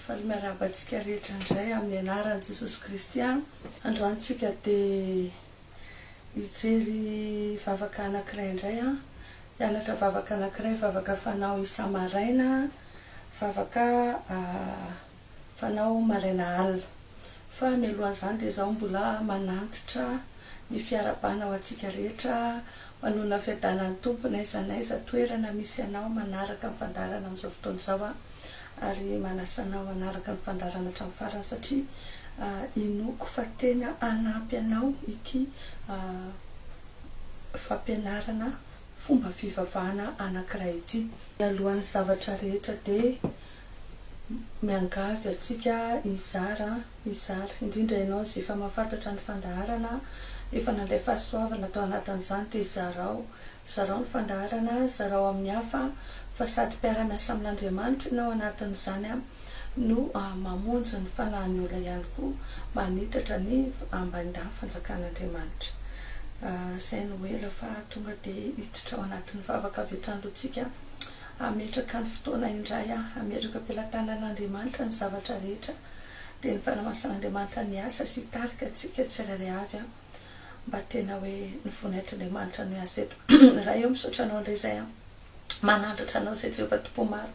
Faly miarahaba antsika rehetra indray amin'ny anaran'i Jesosy Kristy aho. Androany tsika dia hijery vavaka anakiray indray an! Hianatra vavaka anakiray, vavaka fanao isa-maraina, vavaka fanao maraina alina. fa mialohan'izany dia izaho mbola manantitra ny fiarahabana ho antsika rehetra manonona fiadanan'ny Tompo n'aiza n'aiza toerana misy anao manaraka ny fandaharana amin'izao fotoana izao aho ary manasa anao hanaraka ny fandaharana hatramin'ny farany satria inoako fa tena hanampy anao ity fampianarana fomba fivavahana anankiray ity. Mialohan'ny zavatra rehetra dia miangavy antsika hizara, hizara, indrindra ianao izay efa mahafantatra ny fandaharana, efa nandray fahasoavana tao anatin'izany dia zarao, zarao ny fandaharana, zarao amin'ny hafa fa sady mpiara-miasa amin'Andriamanitra ianao anatin'izany no mamonjy ny fanahin'ny olona ihany koa, manitatra ny ambaindahy fanjakan'Andriamanitra. Izay no ela fa tonga dia hiditra ao anatin'ny vavaka avy hatrany aloha tsika Hametraka ny fotoana indray aho, hametraka eo am-pelatanan'Andriamanitra ny zavatra rehetra, dia ny fanamasan'Andriamanitra ny asa sy hitarika antsika tsirairay avy an! mba tena hoe ny voninahitr'Andriamanitra no hiasa eto. Ray ô, misaotra Anao indray izay an! manandratra Anao izay Jehovah Tompo maro,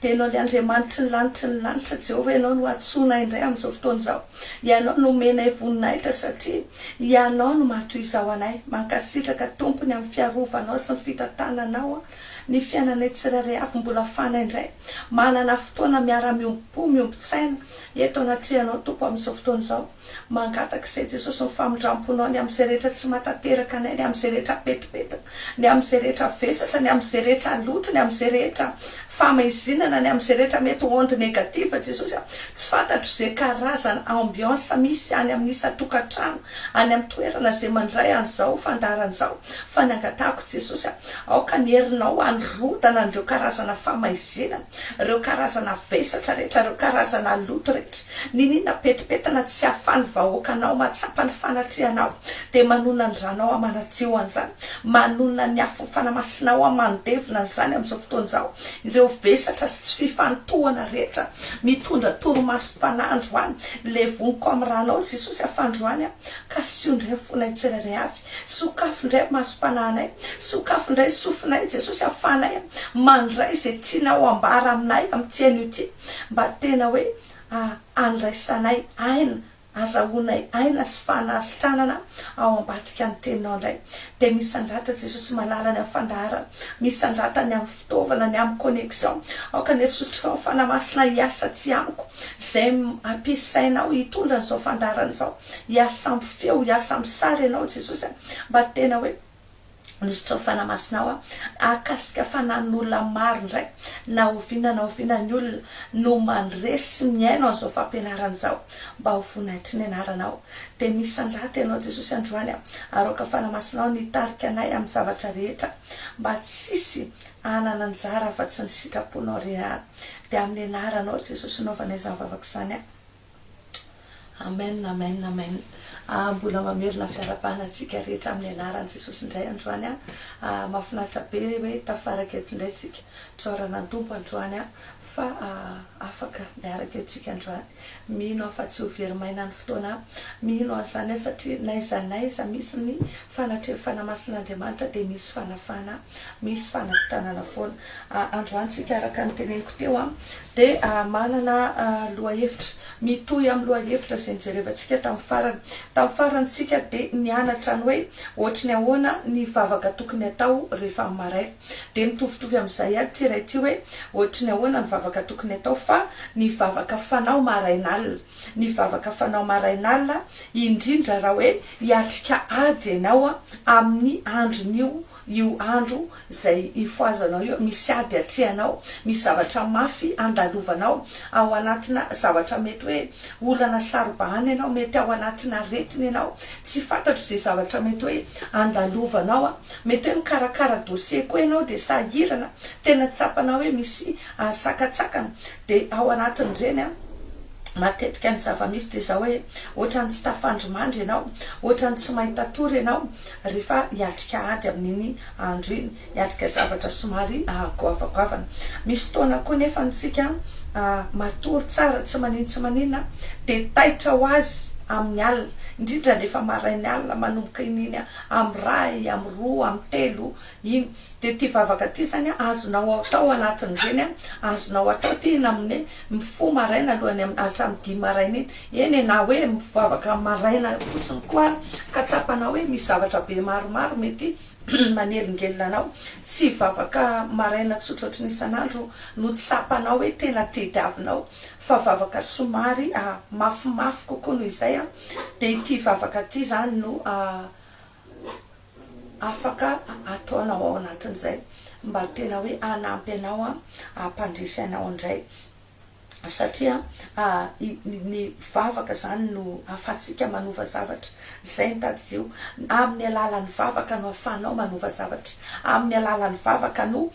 dia Ianao ilay Andriamanitry ny lanitry ny lanitra, Jehovah Ianao no antsoinay indray amin'izao fotoana izao, Ianao no omenay voninahitra satria Ianao no maha toy izao anay, mankasitraka Tompo ny amin'ny fiarovanao sy ny fitantananao an! Ny fiainanay tsirairay avy mbola fanay indray. Manana fotoana miara-miombom-po, miombon-tsaina, eto anatrehanao, Tompo, amin'izao fotoana izao. Mangataka Isay Jesosy ny famindram-ponao ny amin'izay rehetra tsy mahatanteraka anay, ny amin'izay rehetra pentipentina, ny amin'izay rehetra vesatra, ny amin'izay rehetra loto, ny amin'izay rehetra famaizinana, ny amin'izay rehetra mety onde negative, Jesosy a. Tsy fantatro izay karazana ambiance misy any amin'ny isan-tokantrano, any amin'ny toerana izay mandray an'izao fandaharana izao, Fa nangatahako Jesosy aho, aoka ny herinao harodana an'ireo karazana famaizina, ireo karazana vesatra rehetra, ireo karazana loto rehetra, niniana petipetana tsy ahafan'ny vahoakanao mahatsapa ny fanatrehanao, dia manonona ny ranao aho manadio an'izany, manonona ny afofana masinao aho mandevona an'izany amin'izao fotoana izao, ireo vesatra sy tsy fifantohana rehetra mitondra torimasom-panahy androany, levoniko amin'ny ranao Jesosy aho fa androany aho, kasiho indray ny fonay tsirairay avy. Sokafy indray masom-panahinay, sokafy indray sofinay Jesosy ahafahanay mandray izay tianao ambara aminay amin'ity anio ity mba tena hoe handraisanay aina, hazahoanay aina sy fanasitranana ao ambadika ny teninao indray dia misandrata Jesosy malala ny amin'ny fandaharana, misandrata ny amin'ny fitaovana, ny amin'ny connexion, aoka ny Herisotrao Fanahy Masina hiasa aty amiko izay ampiasainao hitondra an'izao fandaharana izao Hiasa ampy feo, hiasa ampy sary ianao Jesosy a! mba tena hoe Minisitry ny Fanahy Masina aho hahakasika fanan'olona maro indray na oviana na oviana ny olona no mandresy sy mihaino an'izao fampianarana izao mba ho voninahitry ny Anaranao dia misy andrata ianao Jesosy androany a! aroaka Fanahy Masinao ny hitarika anay amin'ny zavatra rehetra mba tsy hisy hanana anjara afa-tsy ny sitraponao re ihany dia amin'ny Anaranao Jesosy no anaovana izany vavaka izany a! Amen amen amen ah mbola mamerina fiarahabana antsika rehetra amin'ny anaran'i Jesosy indray androany ah ah mahafinaritra be hoe tafaraka eto indray isika traorana ny Tompo androany ah fa ah afaka miaraka eto isika androany mino aho fa tsy ho very maina ny fotoana mino an'izany ah satria n'aiza n'aiza misy ny Fanatreho fanamasin'Andriamanitra dia misy fanafana, misy fanasitanana foana. Androany tsika araka ny teneniko teo dia manana lohahevitra mitohy amin'ny lohahevitra izay nijerevantsika tamin'ny farany. Tamin'ny farany tsika dia nianatra ny hoe ohatry ny ahoana ny vavaka tokony atao rehefa amin'ny marais. Dia mitovitovy amin'izay ihany ity iray ity hoe ohatry ny ahoana ny vavaka tokony atao fa ny vavaka fanao marain'alina. Ny vavaka fanao marain'alina indrindra raha hoe Hiatrika ady ianao amin'ny andron'io, io andro izay ifohazanao io, misy ady atrehanao, misy zavatra mafy andalovanao, ao anatina zavatra mety hoe olana saro-bahana ianao, mety ao anatina aretina ianao, tsy fantatro izay zavatra mety hoe andalovanao, mety hoe mikarakara dossier koa ianao dia sahirana, tena tsapanao hoe misy sakantsakana, Dia ao anatin'ireny an, matetika ny zava-misy dia izao hoe, ohatran'ny tsy tafandrimandry ianao, ohatran'ny tsy mahita tory ianao rehefa hiatrika ady amin'iny andro iny, hiatrika zavatra somary goavagoavana. Misy fotoana koa nefa ny tsika matory tsara tsy manin tsy maninona dia taitra ho azy amin'ny alina, indrindra rehefa marain'ny alina manomboka iny iny amin'ny iray, amin'ny roa, amin'ny telo, Iny dia ty vavaka ty zany a, azonao atao anatin'ireny a, azonao atao ty na amin'ny hoe mifoha maraina alohan'ny am, hatramin'ny dimy maraina iny, eny e, na hoe mivavaka maraina fotsiny koa ary ka tsapanao hoe misy zavatra be maromaro mety manelingelina anao, tsy vavaka maraina tsotra ohatry ny isan'andro no tsapanao hoe tena tediavinao fa vavaka somary a, mafimafy kokoa noho izay a, dia ity vavaka ty zany no a. afaka ataonao ao anatin'izay mba tena hoe hanampy anao hampandresy anao indray satria ny vavaka izany no ahafahantsika manova zavatra izay ny tadidio amin'ny alalan'ny vavaka no ahafahanao manova zavatra amin'ny alalan'ny vavaka no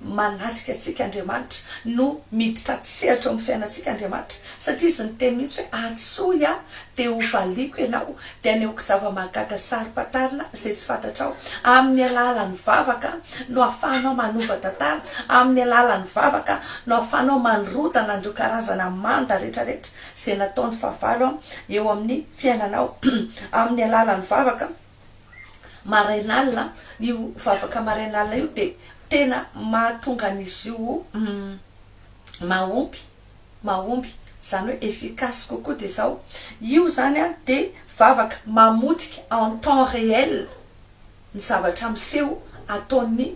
Manatrika antsika Andriamanitra, no miditra an-tsehatra eo amin'ny fiainantsika Andriamanitra, satria Izy niteny mihitsy hoe, Antsoy Aho, dia hovaliako ianao, dia anehoako zava-mahagaga saro-pantarina izay tsy fantatrao. Amin'ny alalan'ny vavaka no ahafahanao manova tantara, amin'ny alalan'ny vavaka no ahafahanao mandrodana an'ireo karazana manda rehetrarehetra izay nataon'ny fahavalo eo amin'ny fiainanao, amin'ny alalan'ny vavaka. marain'alina, io vavaka marain'alina io dia tena mahatonga an'izy io mahomby, mahomby, izany hoe efficace kokoa dia izao, io izany dia vavaka mamotika en temps réel ny zavatra miseho ataon'ny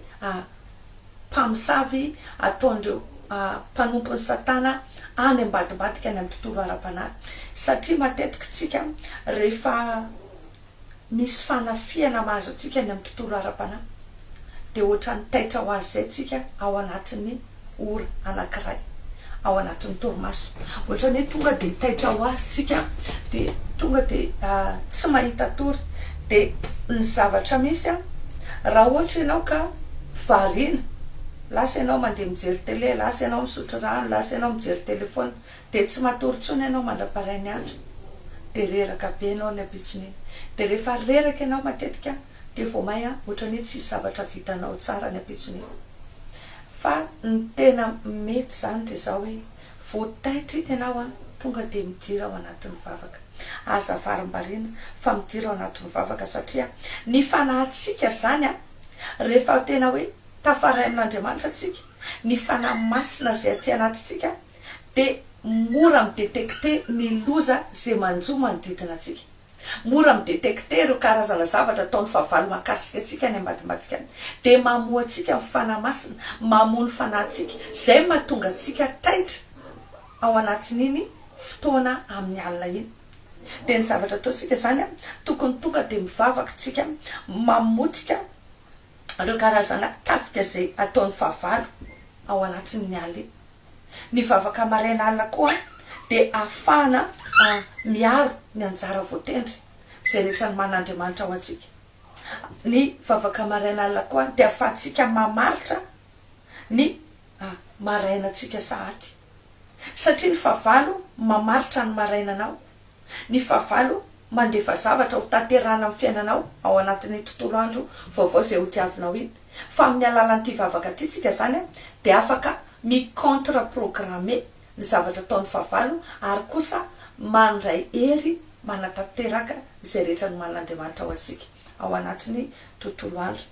mpamosavy, ataon'ireo mpanompon'i satana any ambadimbadika any amin'ny tontolo ara-panahy, satria matetika isika rehefa misy fanafihana mahazo antsika any amin'ny tontolo ara-panahy, dia hoatran'ny taitra ho azy izay isika ao anatin'ny ora anankiray ao anatin'ny torimaso. Hoatran'ny hoe tonga dia taitra ho azy isika, dia tonga dia tsy mahita tory. Dia ny zavatra misy, raha ohatra ianao ka variana, lasa ianao mandeha mijery tele, lasa ianao misotro rano, lasa ianao mijery telefaonina, Dia tsy matory intsony ianao mandraparain'ny andro dia reraka be ianao ny ampitson'iny dia rehefa reraka ianao matetika dia vao maia ohatran'ny hoe tsisy zavatra vitanao tsara ny ampitson'iny fa ny tena mety izany dia izao hoe vao taitra iny ianao an tonga dia midira ao anatin'ny vavaka aza varimbariana fa midira ao anatin'ny vavaka satria ny fanahintsika izany an rehefa tena hoe tafarainin'Andriamanitra tsika ny fanahy masina izay aty anatintsika dia mora mi-detecter ny loza izay manjo manodidina antsika. Mora mi-detecter ireo karazana zavatra ataon'ny fahavalo mahakasika antsika any ambadimbadikany. Dia mamoa antsika ny Fanahy Masina, mamoa ny fanahintsika, izay mahatonga antsika taitra ao anatin'iny fotoana amin'ny alina iny. Dia ny zavatra ataontsika izany, tokony tonga dia mivavaka isika, mamotika Ireo karazana tafika izay ataon'ny fahavalo ao anatin'ny alina. Ny vavaka maraina alina koa dia ahafahana miaro ny anjara voatendry izay rehetra nomanin'Andriamanitra ho antsika. Ny vavaka maraina alina koa dia ahafahantsika mamaritra ny marainantsika sahady. Satria ny fahavalo mamaritra ny marainanao, ny fahavalo mandefa zavatra ho tanterahana amin'ny fiainanao ao anatin'iny tontolo andro vaovao izay hodiavinao iny. Fa amin'ny alalan'ity vavaka ity tsika izany dia afaka mi-contre programmer ny zavatra ataon'ny fahavalo ary kosa mandray hery manatanteraka izay rehetra nomanin'Andriamanitra ho antsika ao anatin'ny tontolo andro.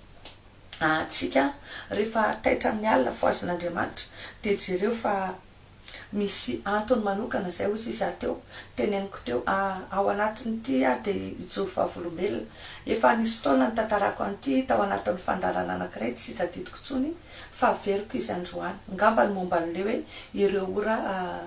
Ah antsika rehefa taitra amin'ny alina fohazin'Andriamanitra dia jereo fa misy antony manokana izay hoy izy aho teo, teneniko teo ah ao anatin'ity aho dia hijoro vavolombelona, efa nisy fotoana nitantarako an'ity tao anatin'ny fandaharana anankiray tsy hitadidiko intsony fa averiko izy androany, ngamba ny momba an'ilay hoe ireo ora ah.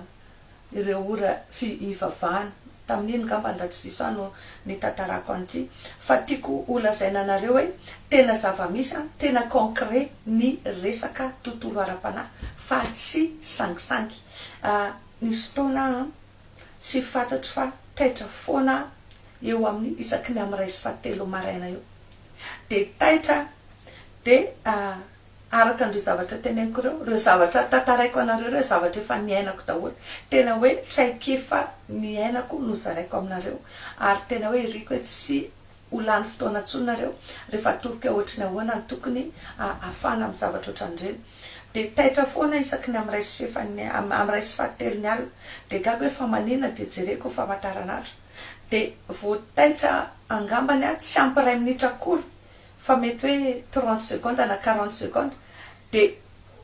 ireo ora fi ivavahana. Tamin'iny ngambany raha tsy diso ahy no nitantarako an'ity. Fa tiako ho lazaina anareo hoe tena zava-misy an, tena concret ny resaka tontolo ara-panahy fa tsy sangisangy. Ah, nisy fotoana aho an, tsy fantatro fa taitra foana aho eo amin'ny isaky ny amin'ny iray sy fahatelo maraina eo. Dia taitra aho, dia ah, Araka an'ireo zavatra teneniko ireo, ireo zavatra tantaraiko anareo ireo zavatra efa niainako daholo, tena hoe traikefa niainako no zaraiko aminareo, ary tena hoe iriko hoe tsy ho lany fotoana intsony nareo rehefa atoroko hoe ohatry ny ahoana ny tokony hafana amin'ny zavatra ohatran'ireny, dia taitra foana isaky ny amin'iray sy fefan'ny amin'iray sy fahatelon'ny alina, dia gaga hoe fa maninona, dia jereko famataran'andro, dia voataitra angambany aho tsy ampy iray minitra akory fa mety hoe trente secondes na quarante secondes dia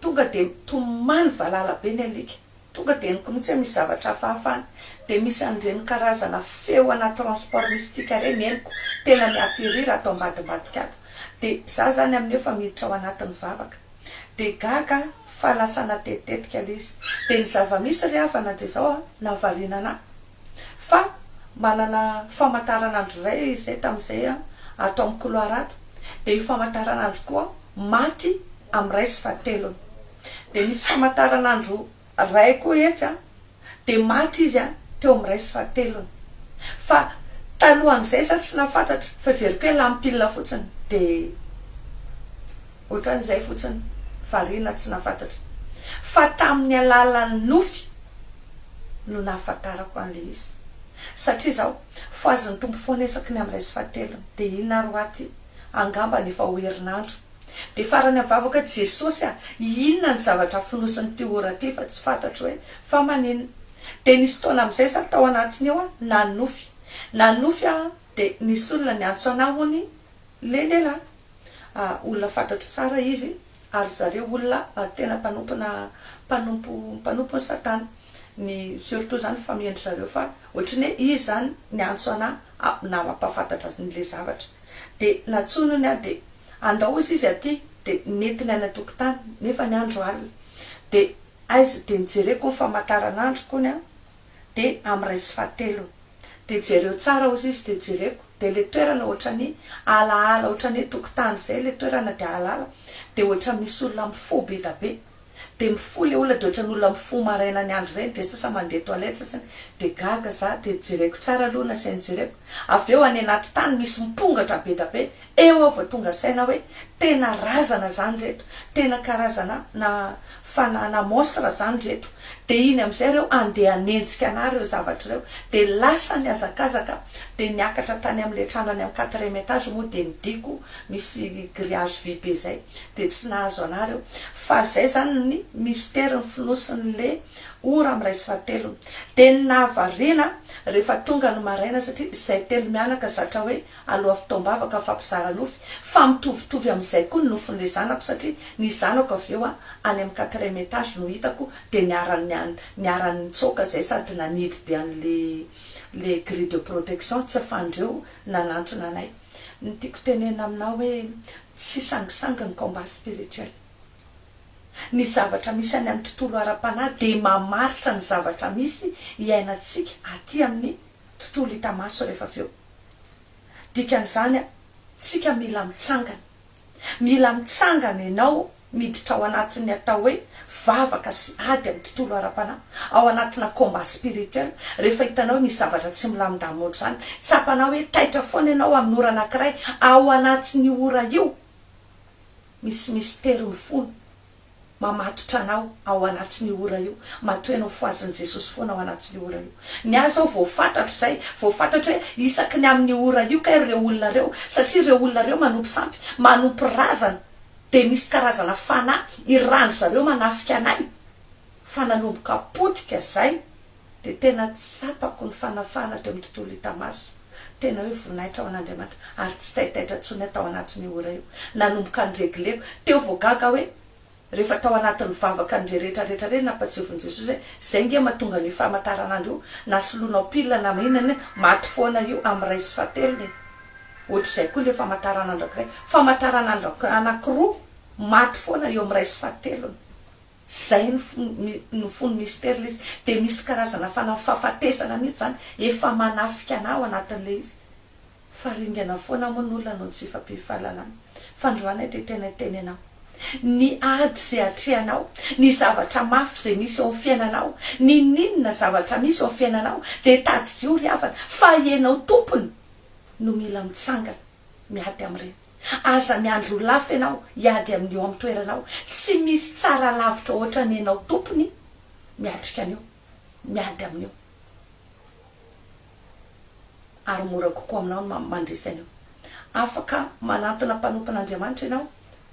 tonga dia tomany valala be ny alika, tonga dia henoko mihitsy hoe misy zavatra hafahafa any, dia misy an'ireny karazana feo ana transport mystique ireny henoko tena mi-atterrir ato ambadimbadika ato, dia za zany amin'ny efa miditra ao anatin'ny vavaka, dia gaga aho fa lasa natetitetika ilay izy, dia ny zava-misy ry havana dia izao an, nahavariana anah, Fa manana famataranandro iray izay tamin'izay ato amin'ny couloir ato, dia io famataranandro koa maty amin'ny iray sy fahatelony. Dia misy famataranandro iray koa etsy an, dia maty izy an, teo amin'ny iray sy fahatelony. Fa talohan'izay izaho tsy nahafantatra, fa heveriko hoe lampilina fotsiny dia. Ohatran'izay fotsiny, variana tsy nahafantatra fa tamin'ny alalan'ny nofy no nahafantarako an'ilay izy satria izaho fohazin'ny Tompo foana isaky ny amin'ny iray sy fahatelony dia inona ary ho aty angambany efa ho herinandro dia farany amin'ny vavaka Jesosy a! inona ny zavatra fonosin'ity ora ity fa tsy fantatro hoe fa maninona dia nisy fotoana amin'izay za tao anatiny eo a! nanofy nanofy aho dia nisy olona niantso anah hono i lehilahy olona fantatro tsara izy ary zareo olona tena mpanompona mpanompo mpanompony satana ny surtout zany famille-ndry zareo fa ohatry ny hoe izy zany niantso anà nampahafantatra azy ny le zavatra de nantsoinony aho de andao izy izy aty de nentiny any an-tokotany nefa ny andro alina de aiza de nijereko ny famataranandro kony an! de am ray sy fahatelo de jereo tsara ozy izy de jereko de le toerana otrany alaala otrany hoe tokotany zay le toerana de alaala de otra misy olona mifoha beda be de mifoha le olona de otrany olona mifoha maraina ny andro reny de sasa mande toilet sasa de gaga za de jereko tsara aloha nasainy jereko aveo any anaty tany misy mpongatra beda be Eo aho vao tonga saina hoe tena razana zany reto, tena karazana na fanahy na monstre zany reto, de iny amizay reo andeha hanenjika anah reo zavatra reo, de lasa nihazakazaka de niakatra tany amle trandrany am quatrième etage moa de ny diako misy grillage vy be zay de tsy nahazo anah reo, fa zay zany ny mystère ny fonosinle ora miray sy fahatelony, de ny nahavariana rehefa tonga ny maraina satria zay telo mianaka zatra hoe aloha fotoam-bavaka fampizara nofy fa mitovitovy amin'izay koa ny nofin'ilay zanako satria ny zanako avy eo an any amin'ny quatrième étage no hitako dia niarany niarany nitsoaka izay sady nanidy be an'ilay ilay grille de protection tsy afahan'ireo nanantona anay ny tiako tenenina aminao hoe tsy sangisangy ny combat spirituel ny zavatra misy any amin'ny tontolo ara-panahy dia mamaritra ny zavatra misy iainantsika aty amin'ny tontolo hita maso rehefa avy eo. Dikan'izany tsika mila mitsangana. Mila mitsangana ianao miditra ao anatin'ny atao hoe vavaka sy ady amin'ny tontolo ara-panahy, ao anatina combat spirituel, rehefa hitanao hoe misy zavatra tsy milamindamina ohatr'izany, tsapanao hoe taitra foana ianao amin'ny ora anankiray, ao anatin'io ora io misy mystère mifono. mamatotra anao ao anatin'io ora io, matoy anao fohazin'i Jesosy foana ao anatin'io ora io. Ny ahy izao voafantatro izay, voafantatro hoe isaky ny amin'io ora io kay ireo olona ireo, satria ireo olona ireo manompo sampy, manompo razana, dia misy karazana fanahy iran-dry zareo manafika anay, fa nanomboka potika izay, dia tena tsapako ny fanafahana teo amin'ny tontolo hita maso, tena hoe voninahitra ho an'Andriamanitra, ary tsy taitaitra intsony aho tao anatin'io ora io, nanomboka niregleko, teo vao gaga hoe rehefa tao anatin'ny vavaka an'ireny rehetra rehetra ireny nampatsiavin'i Jesosy hoe izay nge mahatonga an'io famataranandro io na solonao pile na inona na inona, maty foana io amin'ny iray sy fahatelony e! ohatr'izay koa ilay famataranandro anankiray, famataranandro anankiroa maty foana eo amin'ny iray sy fahatelony. Zay no no fony Mister le izy de misy karazana fana fafatesana mihitsy zany efa manafika anah ao anatin'le izy fa ringana foana moa ny olona noho ny tsy fifampifahalalana fandroana ity tena itenenao ny ady ze atrehanao ny zavatra mafy ze misy eo am fiainanao ninininona zavatra misy eo am fiainanao de tadidio ry havana fa ianao tompony no mila mitsangana miady amreny. Aza miandry ho lafo ianao hiady amin'ny eo amin'ny toeranao, tsy misy tsara lavitra hoatra ny ianao tompony miatrika an'io, miady amin'io, ary mora kokoa aminao ny mandresy an'io. Afaka manantona mpanompon'Andriamanitra ianao,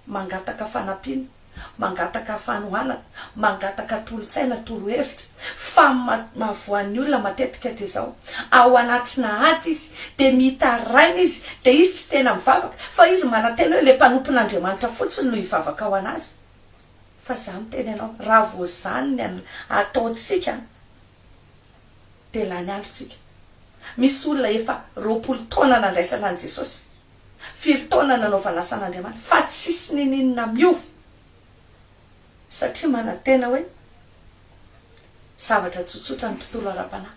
mangataka fanampiana. mangataka fanohanana, mangataka tolo-tsaina, torohevitra, fa mahavoan'ny olona matetika dia izao, ao anatina ady izy, dia mitaraina izy, dia izy tsy tena mivavaka, fa izy manantena hoe ilay mpanompon'Andriamanitra fotsiny no hivavaka ho an'azy, fa izaho miteny anao, raha vao izany ny ataontsika an, dia lany androntsika, misy olona efa roapolo taona nandraisana an'i Jesosy, Firy taona nanao fanasan' Andriamanitra fa tsisy nininona miova satria manantena hoe zavatra tsotsotra ny tontolo ara-panahy.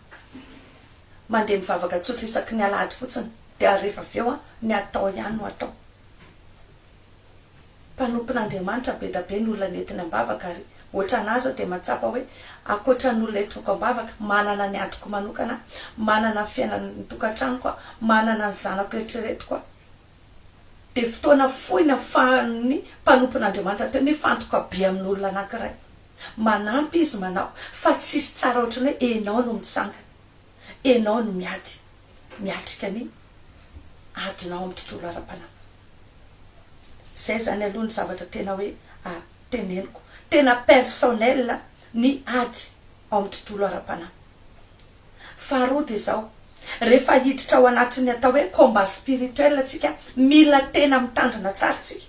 Mandeha mivavaka tsotra isaky ny alahady fotsiny dia rehefa avy eo ny atao ihany no atao. mpanompon'Andriamanitra be da be ny olona nentiny ambavaka ary ohatranà zao dia mahatsapa hoe ankoatran'olona entiko ambavaka, manana ny adiko manokana aho, manana ny fiainan'ny tokantranoko aho, manana ny zanako eritreretiko aho. Dia fotoana fohy nafahan'ny mpanompon'Andriamanitra teo nifantoka be amin'olona anankiray. Manampy izy manao fa tsisy tsara ohatran'ny hoe enao no mitsangana. enao no miady miatrika ny adinao amin'ny tontolo ara-panahy. Izay izany aloha ny zavatra tena hoe teneniko, tena personnel ny ady ao amin'ny tontolo ara-panahy. Faharoa dia izao, rehefa hiditra ao anatin'ny atao hoe combat spirituel tsika, mila tena mitandrina tsara tsika.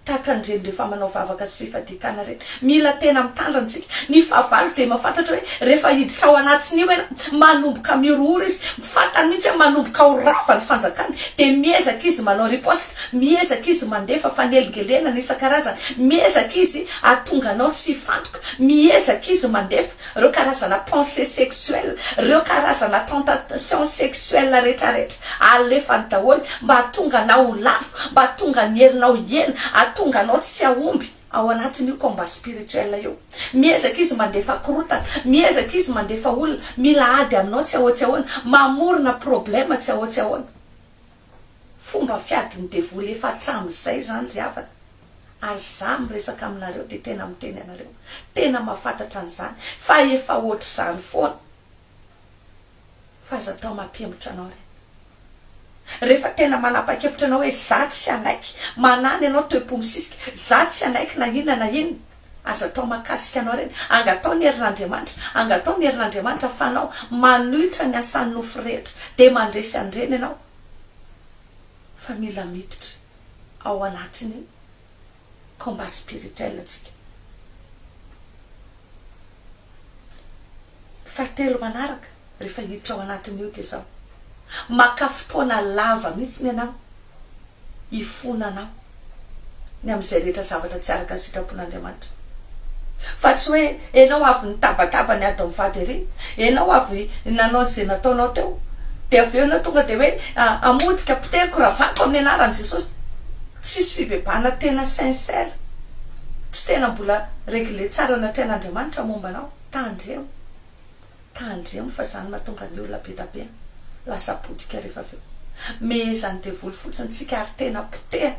Tahaka an'ireny rehefa manao vavaka sy fifadian-tàna ireny. Mila tena mitandrina isika. Ny fahavalo dia mahafantatra hoe rehefa hiditra ao anatin'io ianao, manomboka mihorohoro izy. Fantany mihitsy hoe manomboka ho rava ny fanjakany. Dia miezaka izy manao riposta, miezaka izy mandefa fanelingelenana isan-karazany, miezaka izy hahatonga anao tsy hifantoka, miezaka izy mandefa. reo karazana pensee sexuel, reo karazana tentation sexuel retraretra alefany daholo mba hatonga anao ho lavo, mba hatonga ny herinao hihena, hatonga anao tsy hahomby ao anatin'io combat spirituel io. Miezaka izy mandefa korotana, miezaka izy mandefa olona mila ady aminao tsy ahoa tsy ahoana, mamorona problème tsy ahoa tsy ahoana. Fomba fiadin'ny devoly efa hatramin'izay zany ry havana. Ary za miresaka aminareo de tena miteny anareo tena mafatatra an'izany fa efa ohatr'izany foana fa aza atao mampihemotra anao re refa tena manapakevitra anao hoe za tsy hanaiky manana ianao toepo misisika za tsy hanaiky na inona na inona aza atao makasika anao reny anga atao ny herin'Andriamanitra anga atao ny herin'Andriamanitra fa anao manohitra ny asan'ny nofo rehetra de mandresy an'ireny ianao fa mila miditra ao anatin'ny combat spirituel antsika. Fahatelo manaraka rehefa hiditra ao anatin'io dia izao, maka fotoana lava mihitsy ny anao hifona anao ny amin'izay rehetra zavatra tsy araka ny sitrapon'Andriamanitra. Fa tsy hoe enao avy nitabataba ny ady mivady ery, enao avy nanao izay nataonao teo, dia avy eo enao tonga dia hoe hamotika, potehiko, ravako amin'ny anaran'i Jesosy. Tsisy fibebahana tena sincère, tsy tena mbola régler tsara eo anatrehan'Andriamanitra momba anao. Tandremo, tandremo fa izany no mahatonga ny olona be dia be lasa potika rehefa avy eo. Mehezan'ny devoly fotsiny isika ary tena potehana.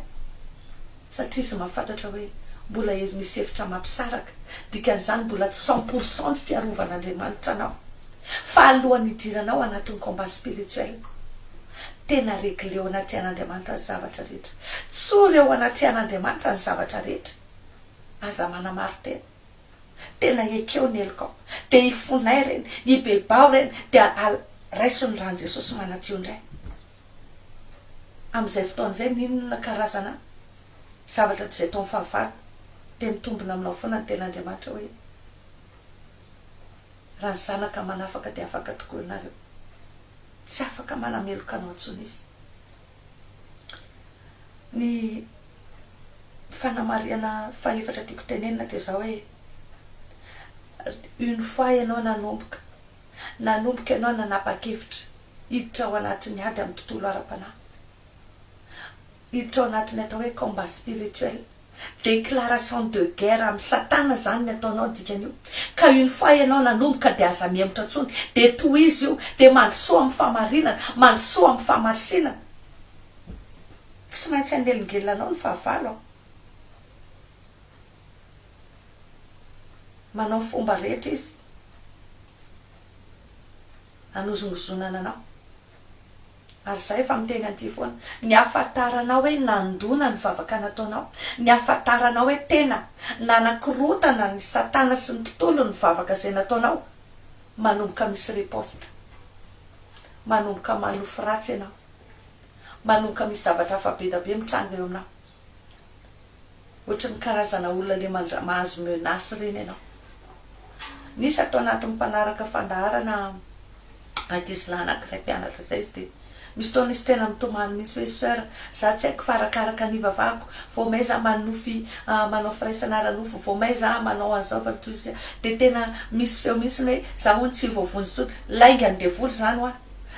satria izy mahafantatra hoe mbola ely misy hevitra mampisaraka, dikan'izany mbola tsy cent pour cent ny fiarovan'Andriamanitra anao, fa alohan'ny hidiranao anatin'ny combat spirituel, tena regleo anatrehan'Andriamanitra ny zavatra rehetra, tsory eo anatrehan'Andriamanitra ny zavatra rehetra, aza manamarin-tena, tena ekeo ny helokao, dia ifonay ireny, ibebaho ireny, dia al, raiso ny ràn'i Jesosy manadio indray. amin'izay fotoana izay n'inona karazana zavatra toy izay taon'ny fahavalo dia mitombina aminao foana ny tenin'Andriamanitra hoe raha ny zanaka manafaka dia afaka tokoa ianareo tsy afaka manameloka anao intsony izy ny fanamarihana fahefatra tiako tenenina dia izao hoe une fois ianao nanomboka Nanomboka ianao nanapa-kevitra hiditra ao anatin'ny ady amin'ny tontolo ara-panahy, hiditra ao anatin'ny atao hoe combat spirituel, déclaration de guerre amin'i Satana izany ny ataonao ny dikan'io, ka une fois ianao nanomboka dia aza mihemotra intsony, dia tohizo io, dia mandrosoa amin'ny fahamarinana, mandrosoa amin'ny fahamasinana. Tsy maintsy hanelingelina anao ny fahavalo an. manao fomba rehetra izy hanozongozonana anao ary izahay efa miteny an'ity foana, ny hahafantaranao hoe nandona ny vavaka nataonao, ny hahafantaranao hoe tena nanakorontana an'i Satana sy ny tontolony ny vavaka izay nataonao, manomboka misy riposte, manomboka manofy ratsy ianao, manomboka misy zavatra hafa be dia be mitranga eo aminao. Ohatran'ny karazana olona le mandra mahazo menace reny ianao. Nisy ato anatiny mpanaraka fandaharana ankizy lahy anakiray mpianatra zay izy de misy fotoana izy tena mitomany mihitsy hoe soeur za tsy haiko fa arakaraka ny ivavahako vao may za manonofy ah manao firaisana ara nofo vao may za manao an'zao fa de tena misy feo mihitsy hoe za hono tsy voavonjy tsony lainga ny devoly zany hoa.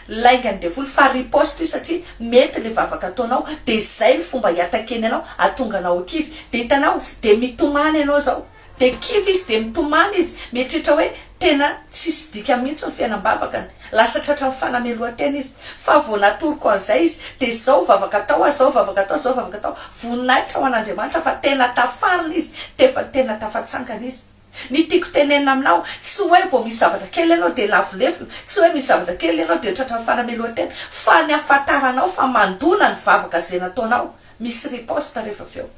laingan'ny devoly fa riposte io satria mety le vavaka ataonao de zay ny fomba hiatakeny anao atonga anao ho kivy de hitanao de mitomany ianao zao de kivy izy de mitomany izy mieritreritra hoe tena tsisy dikany mihitsy ny fiainam-bavakany lasa tratran'ny fanamelohan-tena izy fa vao natoroko an'izay izy de zao vavaka atao a zao vavaka atao zao vavaka atao voninahitra ho an'Andriamanitra fa tena tafarina izy tefa tena tafatsangana izy Ny tiako tenenina aminao, tsy hoe vao misy zavatra kely ianao dia lavo lefona, tsy hoe misy zavatra kely ianao dia tratran'ny fanamelohan-tena, fa ny ahafantaranao fa mandona ny vavaka ze nataonao, misy riposte rehefa avy eo.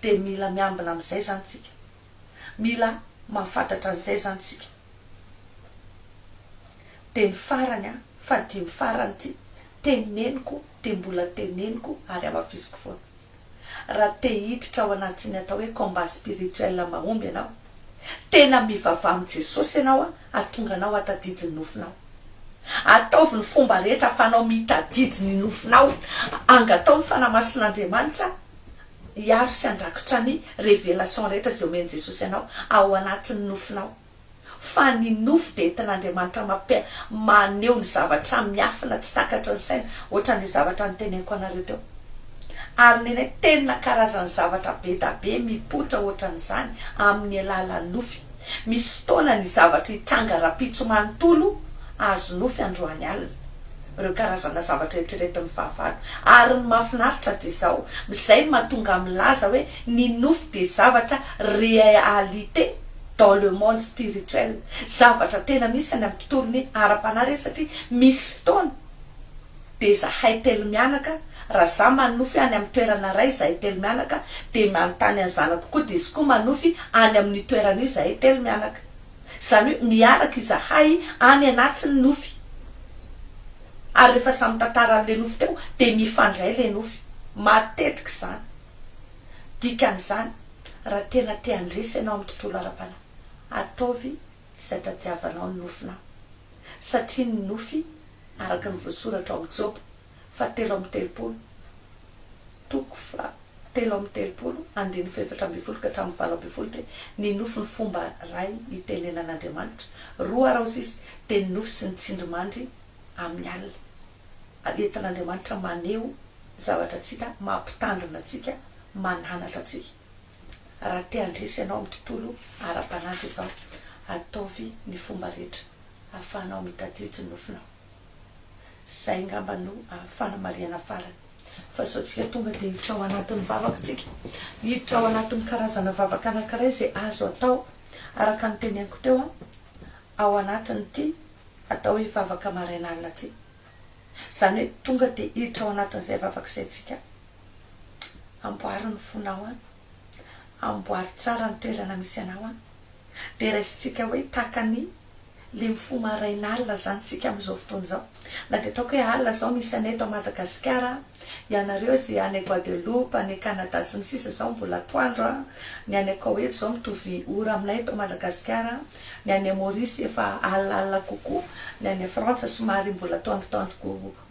Dia mila miambina amin'izay izany tsika. Mila mahafantatra an'izay izany tsika. Dia ny farany an, fahadimy farany ity, teneniko dia mbola teneniko ary hamafisiko foana. Raha te hiditra ao anatin'ny atao hoe combat spirituel mahomby ianao, tena mivavaha amin'i Jesosy ianao hahatonga anao hahatadidy ny nofinao. Ataovy ny fomba rehetra ahafahanao mitadidy ny nofinao. Angataho ny Fanahy Masin'Andriamanitra hiaro sy handrakitra ny révélation rehetra izay omen'i Jesosy anao ao anatin'ny nofinao. fa ny nofo dia entin'Andriamanitra mampi maneho ny zavatra miafina tsy takatry ny saina, ohatran'ilay zavatra noteneniko anareo teo. Ary nenay tena karazan'ny zavatra be da be mipoitra ohatran'izany amin'ny alalan'ny nofy. Misy fotoana ny zavatra hitranga rahampitso manontolo azo nofy androany alina, ireo karazana zavatra eritreretin'ny fahavalo. Ary ny mahafinaritra dia izao, izay no mahatonga ahy milaza hoe ny nofy dia zavatra realite, dans le monde spirituel zavatra tena misy any am tontolo ny ara panahy re satria misy fotoana de zahay telo mianaka ra za manofy any am toerana ray zahay telo mianaka de manontany any zanako koa de zkoa manofy any am ny toerana io zahay telo mianaka zany hoe miaraka izahay any anaty ny nofy ary refa samy tantara am le nofy teo de mifandray le nofy matetika zany dikany zany Raha tena te handresy ianao amin'ny tontolo ara-panahy, ataovy izay tadiavanao ny nofinao, satria ny nofy, araka ny voasoratra ao amin'ny Joba fahatelo amby telopolo, toko fahatelo amby telopolo, andininy fahefatra ambin'ny folo ka hatramin'ny valo ambin'ny folo, dia ny nofy ny fomba iray itenenan'Andriamanitra, roa araozisy, dia ny nofy sy ny tsindrimandry amin'ny alina. entin'Andriamanitra maneho zavatra tsy hita mampitandrina antsika, mananatra antsika. Raha te handresy ianao amin'ny tontolo ara-panantra izao, ataovy ny fomba rehetra ahafahanao mitadidy ny nofinao. Izay angamba no fanamarihana farany. Fa sao tsika tonga dia hiditra ao anatin'ny vavaka tsika, hiditra ao anatin'ny karazana vavaka anankiray izay azo atao, araka ny tenenyko teo, ao anatin'ity Atao io vavaka maraina alina ty. Izany hoe tonga dia hiditra ao anatin'izay vavaka izay tsika. Amboary ny fonao an. Amboary tsara ny toerana misy anao an. Dia raisintsika hoe tahaka ny le mifoha maraina alina izany tsika amin'izao fotoana izao. Na dia ataoko hoe alina izao misy anay eto Madagasikara an. Ianareo izay any Guadeloupe, any Canada sy ny sisa izao mbola atoandro an. Ny any Koweït izao mitovy ora aminay eto Madagasikara an. Ny any Maurice efa alina alina kokoa, ny any Frantsa somary mbola atoandro atoandro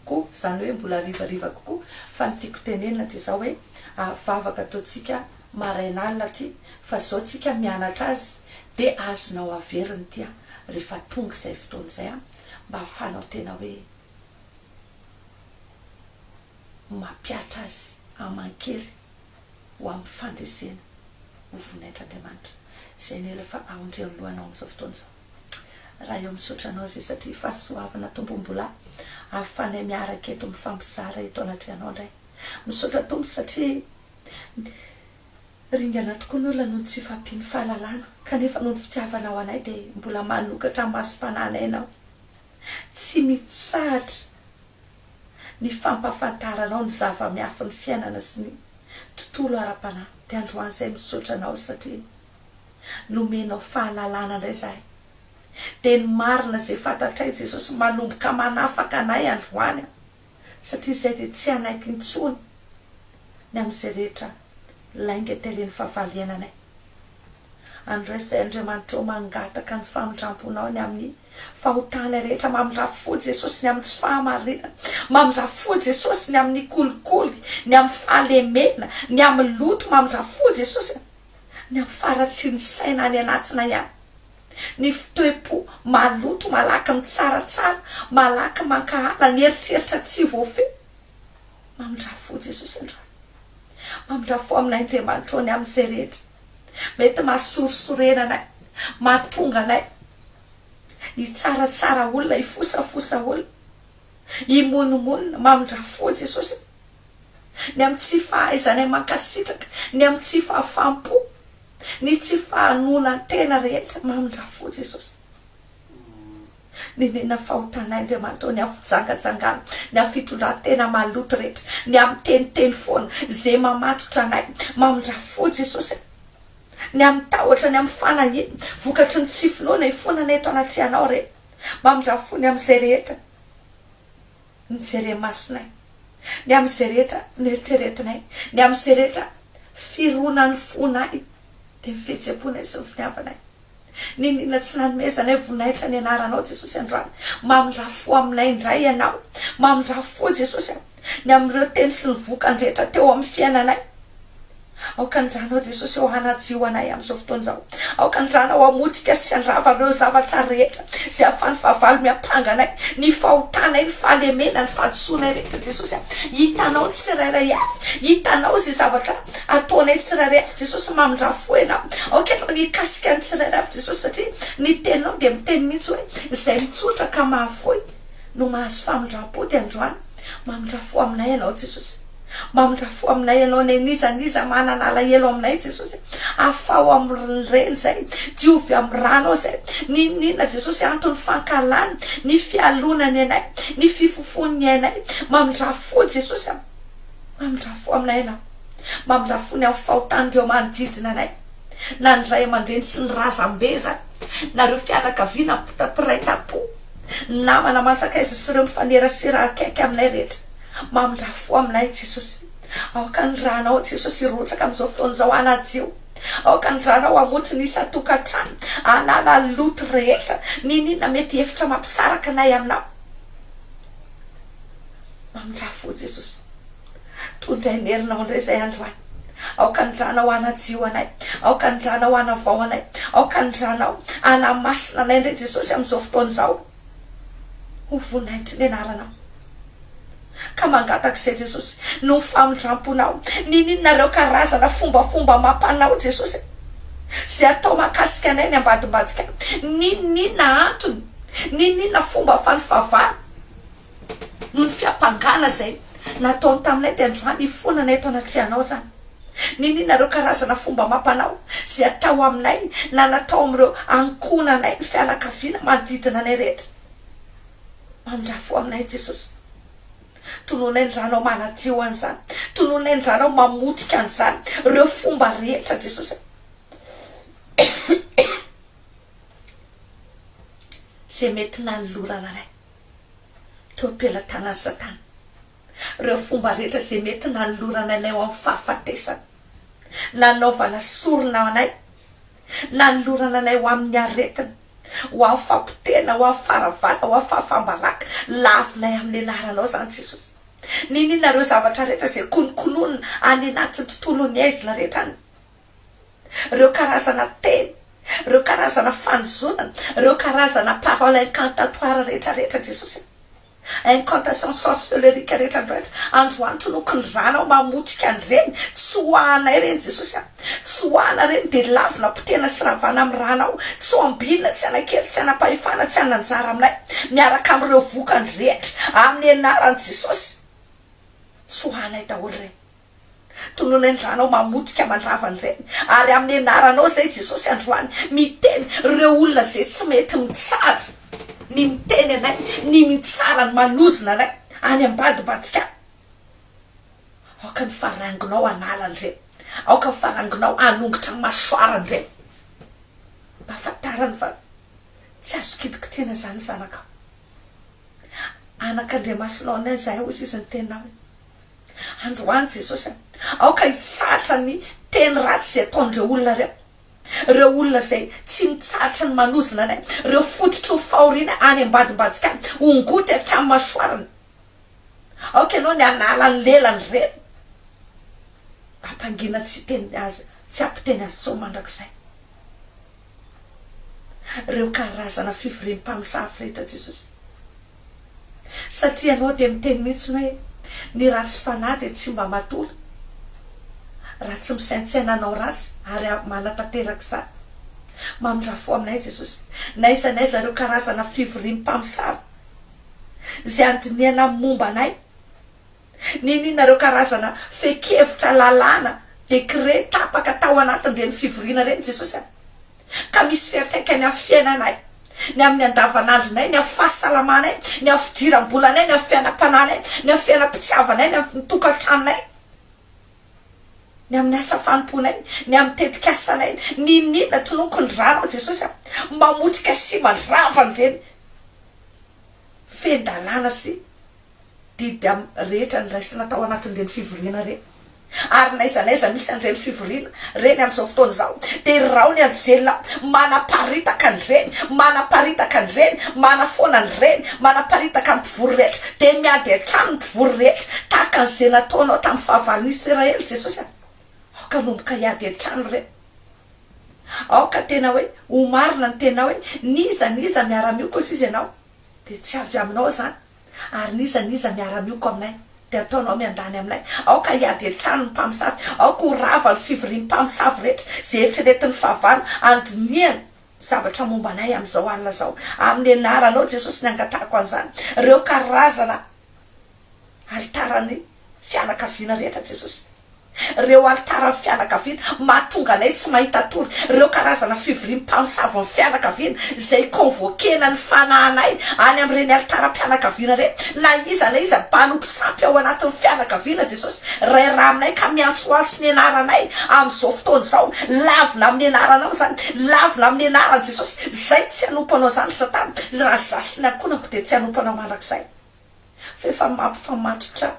kokoa, izany hoe mbola hariva hariva kokoa, fa ny tiako tenenina dia izao hoe, ary vavaka ataontsika maraina alina aty, fa izao tsika mianatra azy dia azonao averina ity an, rehefa tonga izay fotoana izay an, mba ahafahanao tena hoe mampiatra azy aman-kery. ho amin'ny fandresena ho voninahitr'Andriamanitra izay nila fa aondry eo anoloanao amin'izao fotoana izao. Raha eo misaotra anao izay satria fahasoavana Tompo mbola ahafanay miaraka eto mifampizara eto anatrehanao indray. Misaotra Tompo satria ringana tokoa ny olona noho ny tsy fahampian'ny fahalalana kanefa noho ny fitiavanao anay dia mbola manokatra ny masom-panahinay ianao. Tsy mitsahatra. ny fampahafantaranao ny zava-miafin'ny fiainana sy ny tontolo ara-panahy dia androany izay misaotra anao satria nomenao fahalalana indray izahay dia ny marina izay fantatray Jesosy manomboka manafaka anay androany aho satria izay dia tsy hanaiky intsony ny amin'izay rehetra lainga tarehin'ny fahavalo iainanay. Andresy Andriamanitrao mangataka ny famindramponao ny amin'ny fahotana rehetra mamindrafo fo Jesosy ny amin'ny tsy fahamarinana mamindrafo fo Jesosy ny amin'ny kolikoly ny amin'ny fahalemena ny amin'ny loto mamindrafo fo Jesosy a ny amin'ny faharatsian'ny saina any anatina ihany ny fitoepo maloto malaky mitsaratsara malaky mankahala ny eritreritra tsy voafehy mamindrafo fo Jesosy androany mamindrafo fo amin'Andriamanitrao ny amin'izay rehetra Mety mahasorisorena anay, mahatonga anay hitsaratsara olona, hifosafosa olona, himonomonona, mamindrà fo, Jesosy a. Ny amin'ny tsy fahaizanay mankasitraka, ny amin'ny tsy fahafaham-po, ny tsy fahanoanan-tena rehetra, mamindrà fo, Jesosy. Nenenina fahotan'Aindriamanitra ao ny afo jangajangana, ny afo fitondran-tena maloto rehetra, ny amin'ny miteniteny foana, ze mamatotra anay, mamindra fo Jesosy a! ny amin'ny tahotra, ny amin'ny fanahiana, vokatry ny tsy finoana, hifoana anay eto anatrehanao re, mamindra fo ny amin'izay rehetra. ny jere-masonay, ny amin'izay rehetra noeritreretinay, ny amin'izay rehetra fironan'ny fonay, dia ny fihetsem-ponay sy ny finiavanay. Niniana tsy nanomezanay voninahitra ny Anaranao, Jesosy, androany. Mamindrà fo aminay indray Ianao. Mamindrà fo, Jesosy, ny amin'ireo teny sy ny vokany rehetra teo amin'ny fiainanay. Aoka ny Ranao Jesosy ô hanadio anay amin'izao fotoana izao. Aoka ny Ranao hamotika sy handrava ireo zavatra rehetra izay ahafahan'ny fahavalo miampanga anay, ny fahotanay, ny fahalemena, ny fahadisoanay rehetra Jesosy a. Hitanao ny tsirairay avy, hitanao izay zavatra ataonay tsirairay avy Jesosy, mamindrafo fo Ianao. Aoka Ianao ny hikasika ny tsirairay avy Jesosy satria ny Teninao dia miteny mihitsy hoe izay mitsotra ka mahafoy no mahazo famindrampo dia androany mamindra fo aminay Ianao Jesosy. Mba midrafoa aminay ianao Neny Iza n'iza manana alahelo aminay Jesosy e Afaho amin'ny reny izay Diovy amin'ny ranao izay N'inon'inona Jesosy antony fankahalany Ny fialonany anay Ny fifofony ny ainay Mba midrafoa Jesosy a Mba midrafoa aminay ianao Mba midrafoa ny amin'ny fahotan'ireo manodidina anay Na ny ray aman-dreny sy ny razambe izany Na ireo fianakaviana mpitapy mpiray tampo Ny namana mantsakaiza sy ireo mifanerasera akaiky aminay rehetra Mamindraha fo aminay Jesosy. Aoka ny ranao Jesosy hirotsaka amin'izao fotoana izao hanadio. Aoka ny ranao hamotsy ny isan-tokantrano, hanala ny loto rehetra, n'inon'inona mety hihevitra mampisaraka anay aminao. Mamindraha fo Jesosy. Tondray ny herinao indray izay androany. Aoka ny ranao hanadio anay. Aoka ny ranao hanavao anay. Aoka ny ranao hanamasina anay indray Jesosy amin'izao fotoana izao. Ho voninahitry ny anaranao. Ka mangataka izay Jesosy, noho ny famindramponao. Niniana ireo karazana fombafomba amam-panao Jesosy e. Izay atao mahakasika anay ny ambadimbadika. Niniana antony, niniana fomba fanfavana. Noho ny fiampangana izay nataony taminay dia androany ifonana eto anatrehanao izany. Niniana ireo karazana fomba amam-panao izay atao aminay na natao amin'ireo ankohonanay ny fianakaviana manodidina anay rehetra. Mamindrà fo aminay Jesosy. Tononay ny Ranao manadio an'izany. Tononay ny Ranao mamotika an'izany, ireo fomba rehetra Jesosy a. Izay mety nanolorana anay. teo am-pelatanan'i Satana ireo fomba rehetra izay mety nanolorana anay ho amin'ny fahafatesana, nanaovana sorona anay, nanolorana anay ho amin'ny aretina, ho amin'ny fampotehana, ho amin'ny faharavana, ho amin'ny fahafam-baraka. Lavinay amin'ny anaranao izany, Jesosy. Niniana ireo zavatra rehetra izay konokononina any anatin'ny tontolon'ny aizina rehetra any. ireo karazana teny, ireo karazana fanozonana, ireo karazana paroles incantatoires rehetra rehetra Jesosy a! incantations sorceleriques rehetra andro rehetra, androany toloky ny ranao mamotika an'ireny, tsoahanay ireny Jesosy a! tsoahana ireny dia lavina potehina sy ravana amin'ny ranao, tsy ho ambinina tsy hanakely tsy hanapahefana tsy hanana anjara aminay miaraka amin'ireo vokany rehetra amin'ny anaran'i Jesosy, tsoahanay daholo ireny. Tononiny ranao mamotika mandrava ny reny ary amin'ny anaranao izay Jesosy androany miteny ireo olona izay tsy mety mitsara ny miteny anay ny mitsara ny manozona anay any ambadibadika any aoka ny farangonao hanala an'ireny aoka ny farangonao hanongotra ny masoara an'ireny mba fantarany fa tsy azo kitikitihina izany zanakao anak'Andriamasinao anay izahay hoy izy ny teninao Androany Jesosy a! Aoka hitsahatra ny teny ratsy izay ataon'ireo olona ireo. Ireo olona izay tsy mitsahatra ny manozona anay. Ireo fototry ny fahoriana any ambadimbadika any, ho ngoty hatramin'ny masoarana. Aoka Ianao ny hanala ny lelany ireny. Ampangina tsy hiteny azy, tsy hampiteny azy intsony mandrakizay. Ireo karazana fivoriam-pamosavy rehetra Jesosy. Satria ianao dia miteny mihitsy hoe ny ratsy fanahy dia tsy mba matola raha tsy misaintsaina hanao ratsy ary manatanteraka izany. Mamindrà fo aminay Jesosy na iza na iza ireo karazana fivoriam-pamosavy izay andinihana momba anay. Niniana ireo karazana fehin-kevitra, lalàna, décrets, tapaka tao anatin'ireny fivoriana ireny Jesosy an! ka misy fiantraikany amin'ny fiainanay, ny amin'ny andavanandronay, ny amin'ny fahasalamanay, ny amin'ny fidiram-bolanay, ny amin'ny fiainam-panahinay, ny amin'ny fiainam-pitiavanay, ny amin'ny tokantranonay, ny amin'ny asa fanompoanay, ny amin'ny tetikasanay. Niniana, tonoko ny ranao Jesosy an! mamotika sy mandrava an'ireny fehin-dalàna sy didy amin'ny rehetra niraisina tao anatin'ireny fivoriana ireny. Ary n'aiza n'aiza misy an'ireny fivoriana ireny amin'izao fotoana izao, dia irao ny anjely manaparitaka an'ireny, manaparitaka an'ireny, manafoana an'ireny, manaparitaka ny mpivory rehetra, dia miady hatrany ny mpivory rehetra, tahaka an'izay nataonao tamin'ny fahavalon'i Isiraely, Jesosy a! Aoka hanomboka hiady hatrany ireo. Aoka tena hoe ho marina ny tenao hoe n'iza n'iza miara-miokosa izy ianao. dia tsy avy aminao izany, ary n'iza n'iza miara-mioko aminay, dia ataonao miandany aminay, aoka hiady hatrany ny mpamosavy, aoka ho rava ny fivorian'ny mpamosavy rehetra, izay eritreretin'ny fahavalo handinihana zavatra momba anay amin'izao alina izao, amin'ny anaranao Jesosy ny angatahako an'izany, ireo karazana. Alitaran'ny fianakaviana rehetra Jesosy. Ireo alitaran'ny fianakaviana mahatonga anay tsy mahita tory ireo karazana fivorian'ny mpamosavon'ny fianakaviana izay convoquer-na ny fanahinay any amin'ireny alitaram-pianakaviana ireny. Na iza na iza mpanompo sampy ao anatin'ny fianakaviana Jesosy Ray ra aminay ka miantsoantso ny anaranay amin'izao fotoana izao, lavina amin'ny anaranao izany, lavina amin'ny anaran'i Jesosy izay tsy hanompo anao izany ry satana, raha izaho sy ny ankohonako dia tsy hanompo anao mandrakizay. fa efa mampifamatotra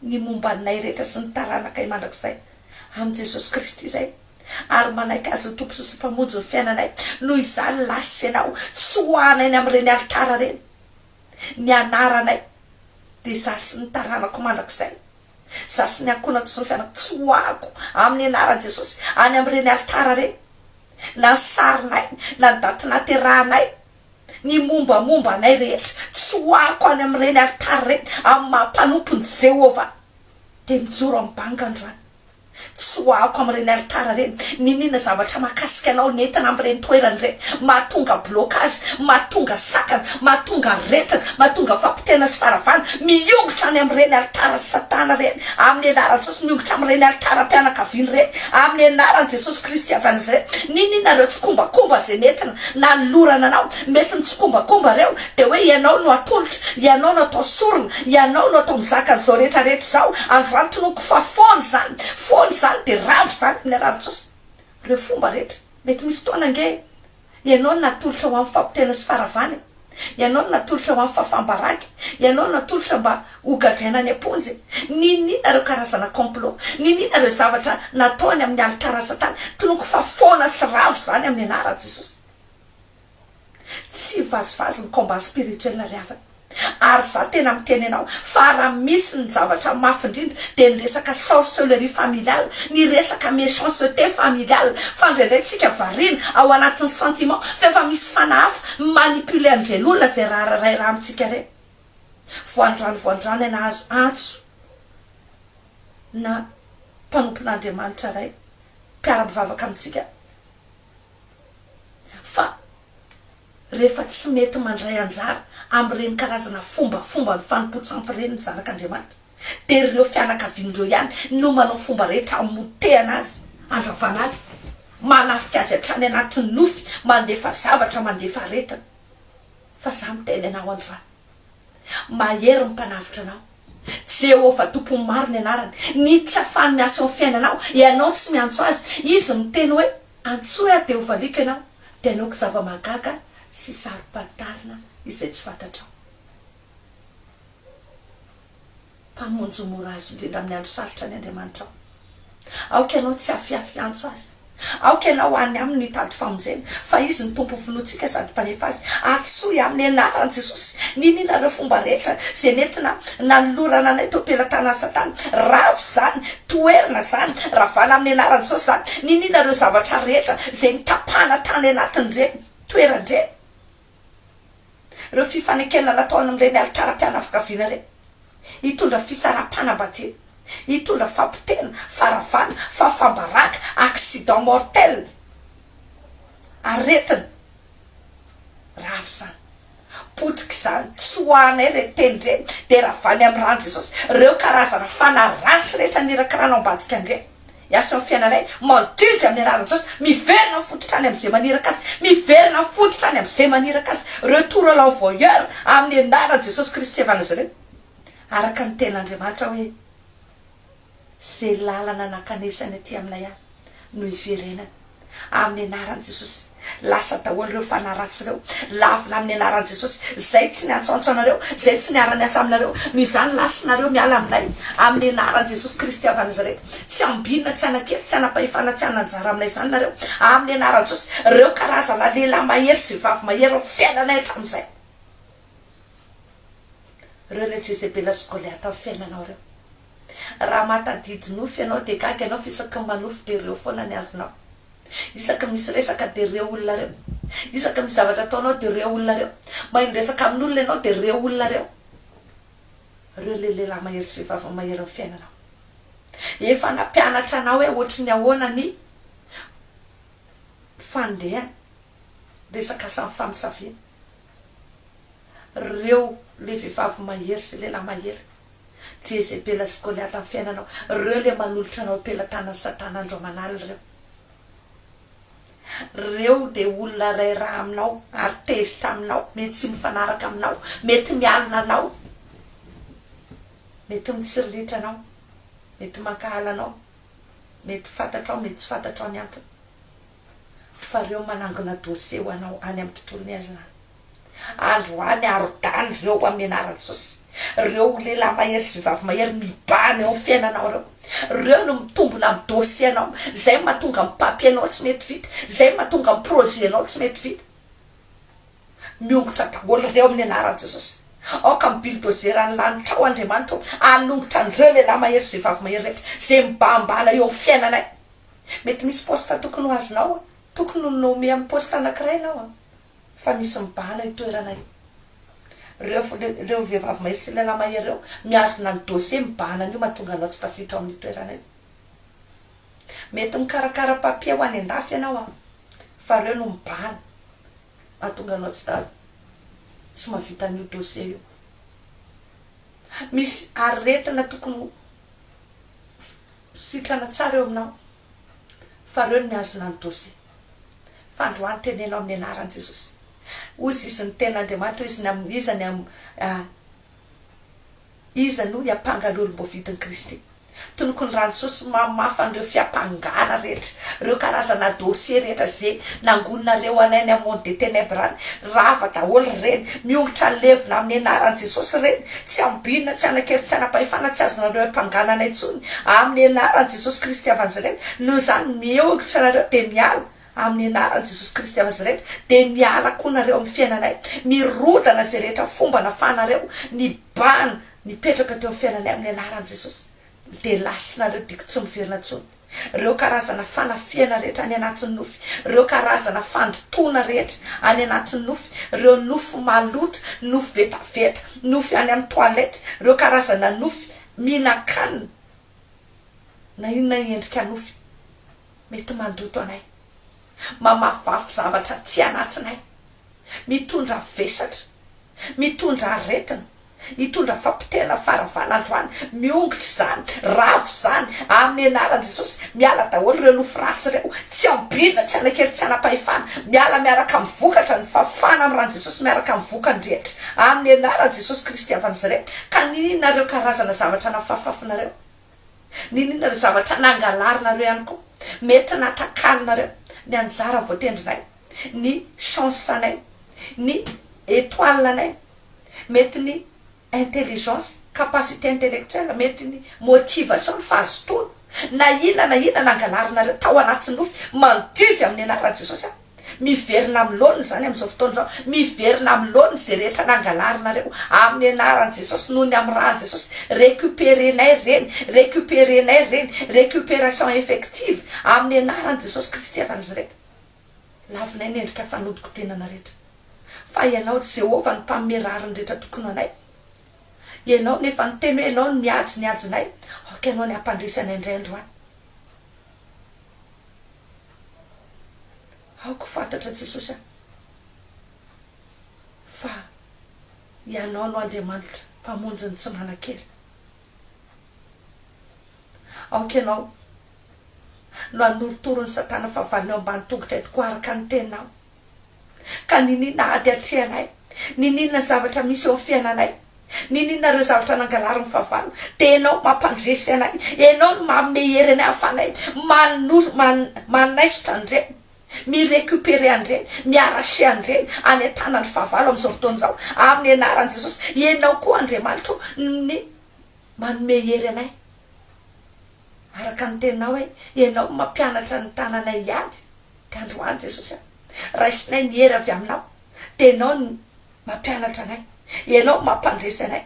ny momba anay rehetra sy ny taranakay mandrakizay amin'i Jesosy Kristy izay, ary manaiky Azy ho Tompo sy Mpamonjy ny fiainanay, noho izany lahy sy ianao, fisohahana eny amin'ireny alitara ireny ny anaranay, dia izaho sy ny taranako mandrakizay, izaho sy ny ankohonako sy ny fianako, fisohahako amin'ny anaran'i Jesosy any amin'ireny alitara ireny, na ny sarinay, na ny daty nahaterahanay, Ny mombamomba anay rehetra tsoahako any amin'ireny alitara ireny amin'ny maha-mpanompon'i Jehovah, dia mijoro amin'ny banga androany. Tsoahako amin'ireny alitara ireny n'inon'inona zavatra mahakasika anao nentina amin'ireny toerana ireny, mahatonga blocage, mahatonga sakana, mahatonga aretina, mahatonga fampotehana sy faharavana. Miongotra any amin'ireny alitaran'i Satana ireny amin'ny anaran'i Jesosy, miongotra amin'ireny alitaram-pianakaviana ireny amin'ny anaran'i Jesosy Kristy avy any Nazareta, n'inon'inona ireo tsikombakomba izay nentina. Nanolorana anao, mety nitsikombakomba ireo, dia hoe ianao no atolotra, ianao no atao sorona, ianao no atao mizaka an'izao rehetrarehetra izao, androany tononiko fa foana izany, foana izany dia ravo izany amin'ny alalan'i Jesosy. Ireo fomba rehetra, mety misy fotoana ange ianao no natolotra ho amin'ny fahapotehana sy faharavana e. Ianao no natolotra ho amin'ny fahafaham-baraka e! Ianao no natolotra mba hogadraina any am-ponja e! Ninoninona ireo karazana complot? Ninoninona ireo zavatra natao any amin'ny alitara satana? Tonoko fa foana sy ravo izany amin'ny anaran'i Jesosy. Tsy vazivazy ny combat spirituel ry havana. Ary izaho tena miteny anao fa raha misy ny zavatra mafy indrindra dia ny resaka sorcellerie familiale, ny resaka méchanceté familiale, fa indraindray tsika variana ao anatin'ny sentiment fa efa misy fanahy hafa Manipuler ny velona izay rahararay raha amintsika re. Voandrano voandrano hay nahazo antso na mpanompon'Andriamanitra ray mpiara-mivavaka amintsika fa rehefa tsy mety mandray anjara amin'ireny karazana fombafomban'ny fanompoan-tsampy ireny ny zanak'Andriamanitra. dia ireo fianakaviany ireo ihany no manao fomba rehetra hamotehana azy, handravana azy, manafika azy hatrany anatin'ny nofy, mandefa zavatra, mandefa aretina. Fa izaho miteny anao androany, Mahery ny Mpanavotra anao, Jehovah Tompon'ny maro ny anarany, ny tsy afahany miasa eo amin'ny fiainanao, ianao tsy miantso azy, izy miteny hoe, Antsoy aho dia hovaliako ianao, dia hanaoko zava-mahagaga sy saro-pantarina izay tsy fantatrao. Mpamonjy mora azo indrindra amin'ny andro sarotra ny Andriamanitrao. Aoka ianao tsy hafiafy hiantso Azy. Aoka ianao any Aminy hitady famonjena, fa Izy no Tompon'ny vonoantsika sady Mpanefa azy. Atisoy amin'ny Anaran'i Jesosy ny iniana ireo fomba rehetra izay nentina nanolorana anay teo am-pelatanan'i Satana. Ravo izany, toherina izany, ravana amin'ny Anaran'i Jesosy izany, ny iniana ireo zavatra rehetra izay nitapahana tany anatin'ireny toerana ireny. ireo fifanekena natao any amin'ireny alitaram-pianakaviana ireny, hitondra fisaraham-panambadiana, hitondra fahapotehana, faharavana, fahafam-baraka, accident mortel, aretina, rava izany, potika izany, tsy ho anay ireny teny ireny, dia ravany amin'ny rano Jesosy ireo karazana fanahy ratsy rehetra nirakirana ao ambadika ireny, Hiasa ny fiainana iray, mandidy amin'ny alalan'i Jesosy, miverina fototra any amin'izay maniraka Azy, miverina fototra any amin'izay maniraka Azy, retour à l'envoyeur, amin'ny anaran'i Jesosy Kristy hihavanan'izy ireo, araka ny Tenin'Andriamanitra hoe, Izay lalana nankanesany aty aminay aho no hiverenany. Amin'ny anaran'i Jesosy. Lasa daholo ireo fanahy ratsy ireo. Lavina amin'ny anaran'i Jesosy. Izay tsy niantsaontsa anareo, izay tsy niara-niasa aminareo, noho izany lasanareo miala aminay, amin'ny anaran'i Jesosy Kristy avy Nazareta. Tsy ambinina, tsy anakely, tsy anam-pahefana, tsy hanana anjara aminay izany nareo, amin'ny anaran'i Jesosy. Ireo karazana lehilahy mahery sy vehivavy mahery amin'ny fiainanay hatramin'izay. Ireo ilay Jezebela sy Goliata amin'ny fiainanao ireo. Raha mahatadidy nofy ianao dia gaga ianao fa isaky ny manofy dia reo foana ny azonao. Isaky ny misy resaka dia reo olona reo. Isaky ny misy zavatra ataonao dia reo olona reo. Mahay miresaka amin'olona ianao dia reo olona reo. Reo le lehilahy mahery sy vehivavy mahery ny fiainanao. Efa nampianatra anao hoe ohatry ny ahoana ny fandehany. Resaka asa ny famosaviana. Reo le vevavy mahery sy lehilahy mahery Jezebela sy Goliata ny fiainanao Reo le manolotra anao am-pelatanan'i satana andro aman'alina reo Reo de olona ray rà aminao ary tezitra aminao mety tsy mifanaraka aminao mety mialona anao mety mitsirilitra anao mety mankahala anao mety fantatrao mety tsy fantatrao ny antony fa reo manangona dossier ho anao any am tontolo ny azy ra andro any arodany reo hamenaran tsosy reo ho lehilahy mahery sy vavy mahery mibahana eo am fiainanao reo reo no mitombona am dossier nao zay matonga am papier nao tsy mety vita zay matonga am projet nao tsy mety vita miongotra daholo reo amin anaran jesosy aoka am bulldozer any lanitrao andriamanitra o anongotra anreo lehilahy mahery sy vehivavy mahery rehetra zay mibahambahana eo am fiainanay Mety misy poste tokony ho azonao an! Tokony ho nommé amin'ny poste anankiray ianao an! Fa misy mibahana io toerana io. Ireo, ireo vehivavy mahery sy lehilahy mahery ireo mihazona ny dossier mibahana an'io mahatonga anao tsy tafiditra ao amin'io toerana io. Mety mikarakara papier ho any an-dafy ianao an! Fa ireo no mibahana mahatonga anao tsy ta, tsy mahavita an'io dossier io. Misy aretina tokony ho, Sitrana tsara eo aminao fa reo no mihazona ny dosie. Fandroany teneno amin'ny anaran'i Jesosy. Ozy izy ny ten'Andriamanitra izy ny amin'ny iza ny amin'ny iza no hiampanga ny olom-boavidin'i Kristy. Tonoko ny ran'i Jesosy mamafa an'ireo fiampangana rehetra, ireo karazana dosie rehetra ze nangoninareo anay any amin'ny monde des tenèbres any. Rava daholo ireny. Miongotra levona amin'ny anaran'i Jesosy ireny. Tsy ambinina, tsy hanan-kery, tsy hanam-pahefana, tsy azonareo haipanganana intsony amin'ny anaran'i Jesosy Kristy Evanzelento, noho izany mihoritra nareo dia miala, amin'ny anaran'i Jesosy Kristy Evanzelento, dia miala koa nareo amin'ny fiainanay, mirodana izay rehetra fomba nafahanareo ny bana nipetraka teo amin'ny fiainanay amin'ny anaran'i Jesosy, dia lasinareo diko tsy miverina intsony. ireo karazana fanafihana rehetra any anatin'ny nofy, ireo karazana fandotoana rehetra any anatin'ny nofy, ireo nofy maloto, nofy vetaveta, nofy any amin'ny toilette, ireo karazana nofy mihinan-kanina na inona endrika nofy mety mandoto anay. Mamafafy zavatra aty anatnay. Mitondra vesatra. Mitondra aretina. Nitondra fapotehana faravanandro any. Miongotra izany. Rava izany. Amin'ny anaran'i Jesosy. Miala daholo ireo nofo ratsy ireo. Tsy ambinina, tsy hanan-kery, tsy hanam-pahefana. Miala miaraka amin'ny vokatra. Ny fafana amin'ny ran'i Jesosy miaraka amin'ny vokany rehetra. Amin'ny anaran'i Jesosy Kristy avy an'izy ireo. Ka ny nareo karazana zavatra nafafafinareo. N'inona ny zavatra nangalarinareo ihany koa mety natakaninareo ny anjara voatendrinay, ny chance-nay, ny étoile-nay, mety ny intelligence, capacité intellectuelle, mety ny motivation, ny fahazotoana, na inona na inona nangalarinareo tao anaty nofy mandridy amin'ny anaran'i Jesosy aho. Miverina amin'ny laoniny izany amin'izao fotoana izao. Miverina amin'ny laoniny izay rehetra nangalarinareo amin'ny anaran'i Jesosy noho ny amin'ny ran'i Jesosy. Recuperenay ireny, recuperenay ireny, recuperation effective amin'ny anaran'i Jesosy Kristy avy Nazareth. Lavinay ny endrika fanodinkodinana rehetra. Fa Ianao Jehovah no Mpanome rariny rehetra tokony ho anay. Ianao no efa niteny hoe Ianao no mihajo ny hajonay, aoka Ianao ny hampandresy anay indray androany. Aoka fantatra Jesosy a fa Ianao no Andriamanitra mpamonjy ny tsy manan-kery. Aoka Ianao no hanorotoro ny satana fahavalony eo ambany tongotray tokoa araka ny Teninao. Ka niniana ady atrehanay? Niniana zavatra misy eo amin'ny fiainanay? Niniana ireo zavatra nangalarin'ny fahavalo? Dia Ianao mampandresy anay. Ianao no manome hery anay hahafanay manor, man, manaisotra an'ireny, mi-recuperer an'ireny, mi-arracher an'ireny any an-tanan'ny fahavalo amin'izao fotoana izao, amin'ny anaran'i Jesosy. Ianao koa, Andriamanitra ô, no manome hery anay. Araka ny teninao e, ianao no mampianatra ny tananay hiady, dia androany Jesosy a, raisinay ny hery avy aminao, dia ianao no mampianatra anay, ianao no mampandresy anay,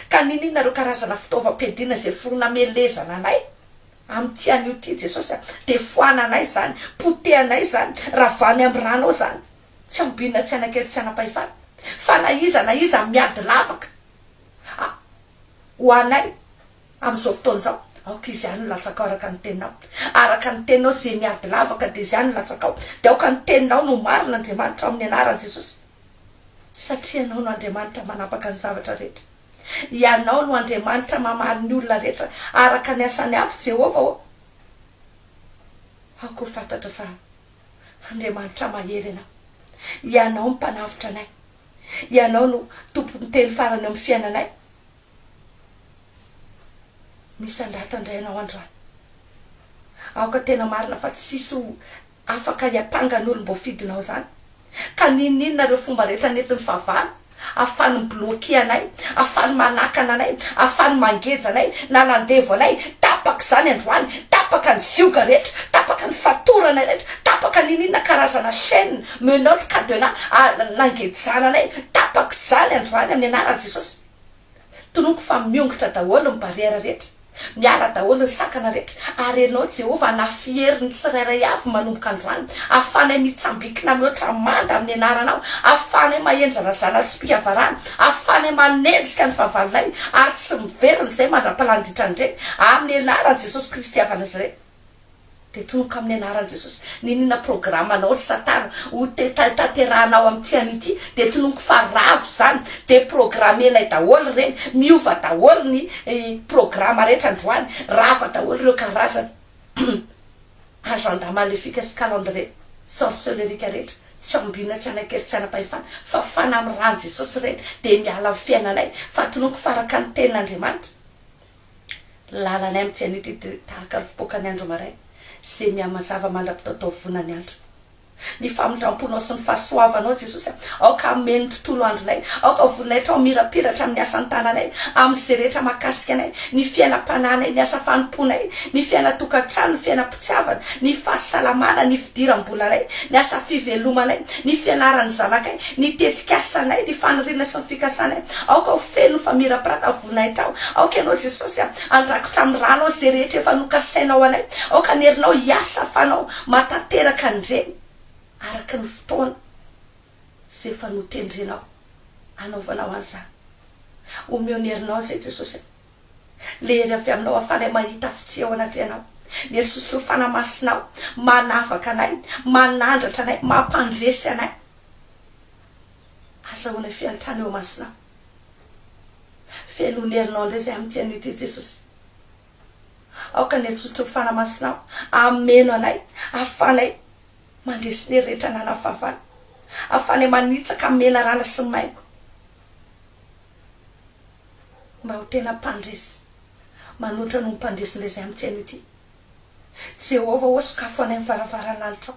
ka niniana ireo karazana fitaovam-piadiana izay foro namelezana anay amin'ity anio ity Jesosy a, dia foananay izany, potehanay izany, ravahanay amin'ny ranao izany, tsy ambinina tsy hanakely tsy hanam-pahefana, fa na iza na iza miady lavaka a, ho anay amin'izao fotoana izao, aoka izany no latsakao araka ny teninao, araka ny teninao izay miady lavaka dia izany no latsakao, dia aoka ny teninao no ho marina Andriamanitra ao amin'ny anaran'i Jesosy, satria ianao no Andriamanitra manapaka ny zavatra rehetra, ianao no Andriamanitra mamaly ny olona rehetra araka ny asany avy Jehovah ô, aoka ho fantatra fa Andriamanitra mahery ianao, ianao no mpanavotra anay. Ianao no tompon'ny teny farany eo amin'ny fiainanay. Misandrata indray ianao androany. Aoka tena marina fa tsy hisy ho afaka hiampanga ny olom-boafidinao izany. Ka n'inon'inona ireo fomba rehetra nentin'ny fahavalo, ahafahany mi-bloquer anay, ahafahany manakana anay, ahafahany mangeja anay na mandevo anay, tapaka izany androany, tapaka ny zioga rehetra, tapaka ny fatoranay rehetra, tapaka n'inon'inona karazana chaine, Menottes cadenas ary nangejana anay tapak'izany androany amin'ny anaran'i Jesosy. Tononiko fa miongotra daholo ny barrière rehetra, miala daholo ny sakana rehetra ary Ianao Jehovah hanafiero ny tsirairay avy manomboka androany, ahafahanay mitsambikina mihoatra manda amin'ny anaranao, ahafahanay mahenjana zana-tsom-pihavarana, ahafahanay manenjika ny fahavalonay ary tsy miverina izay mandra-palandriantrany ireny, amin'ny anaran'i Jesosy Kristy Ava Nazareth. Dia tonoka amin'ny anaran'i Jesosy. N'inona programanao ry satana ho tanterahanao amin'ity anio ity dia tononiko fa ravo izany dia programenay daholo ireny, miova daholo ny programa rehetra androany, rava daholo ireo karazana agenda maléfique sy calendrier sorcelerique rehetra, tsy ambinina tsy anankery tsy anam-pahefana fa fanahy amin'ny ran'i Jesosy ireny dia miala amin'ny fiainanay fa tononiko fa araka ny tenin'Andriamanitra. Lalanay amintsy anio ity dia tahaka ny fipoakan'ny andro maraina izay mihamazava mandra-pitao-taovonan'ny andro. Ny famindram-ponao sy ny fahasoavanao, Jesosy a, aoka hameno ny tontolo andronay. Aoka ho voninahitrao ny mirapiratra amin'ny asan'ny tananay, amin'izay rehetra mahakasika anay, ny fiainam-panahinay, ny asa fanompoanay, ny fiainan-tokantrano, ny fiainam-pitiavana, ny fahasalamana, ny fidiram-bolanay, ny asa fivelomanay, ny fianaran'ny zanakay, ny tetikasanay, ny faniriana sy ny fikasanay. Aoka ho feno ny famirapirata. voninahitra aho. Aoka Ianao, Jesosy, handrakitra amin'ny rànao izay rehetra efa nokasainao anay. Aoka ny herinao hiasa fanao mahatanteraka an'ireny, araka ny fotoana izay efa notendrenao hanaovanao an'izany. Omeo ny herinao an'izay, Jesosy a. Ilay hery avy Aminao hahafalay mahita fitia ao anatrehanao. Ny hery sosotrory fanahy masinao, manavaka anay, manandratra anay, mampandresy anay. Azahoanay fiantrana eo imasonao. Velon' herinao indray izay amin'ity anio ity Jesosy. Aoka ny herisotra ho fanamasinao hameno anay ahafanay mandeha sy ny hery rehetra ananan'ny fahavalo ahafanay manitsaka amin'ny menarana sy ny maingo mba ho tena mpandresy manoatra noho ny mpandresy indray izay amin'ity anio ity Jehovah ô sokafo anay ny varavaran'anitrao.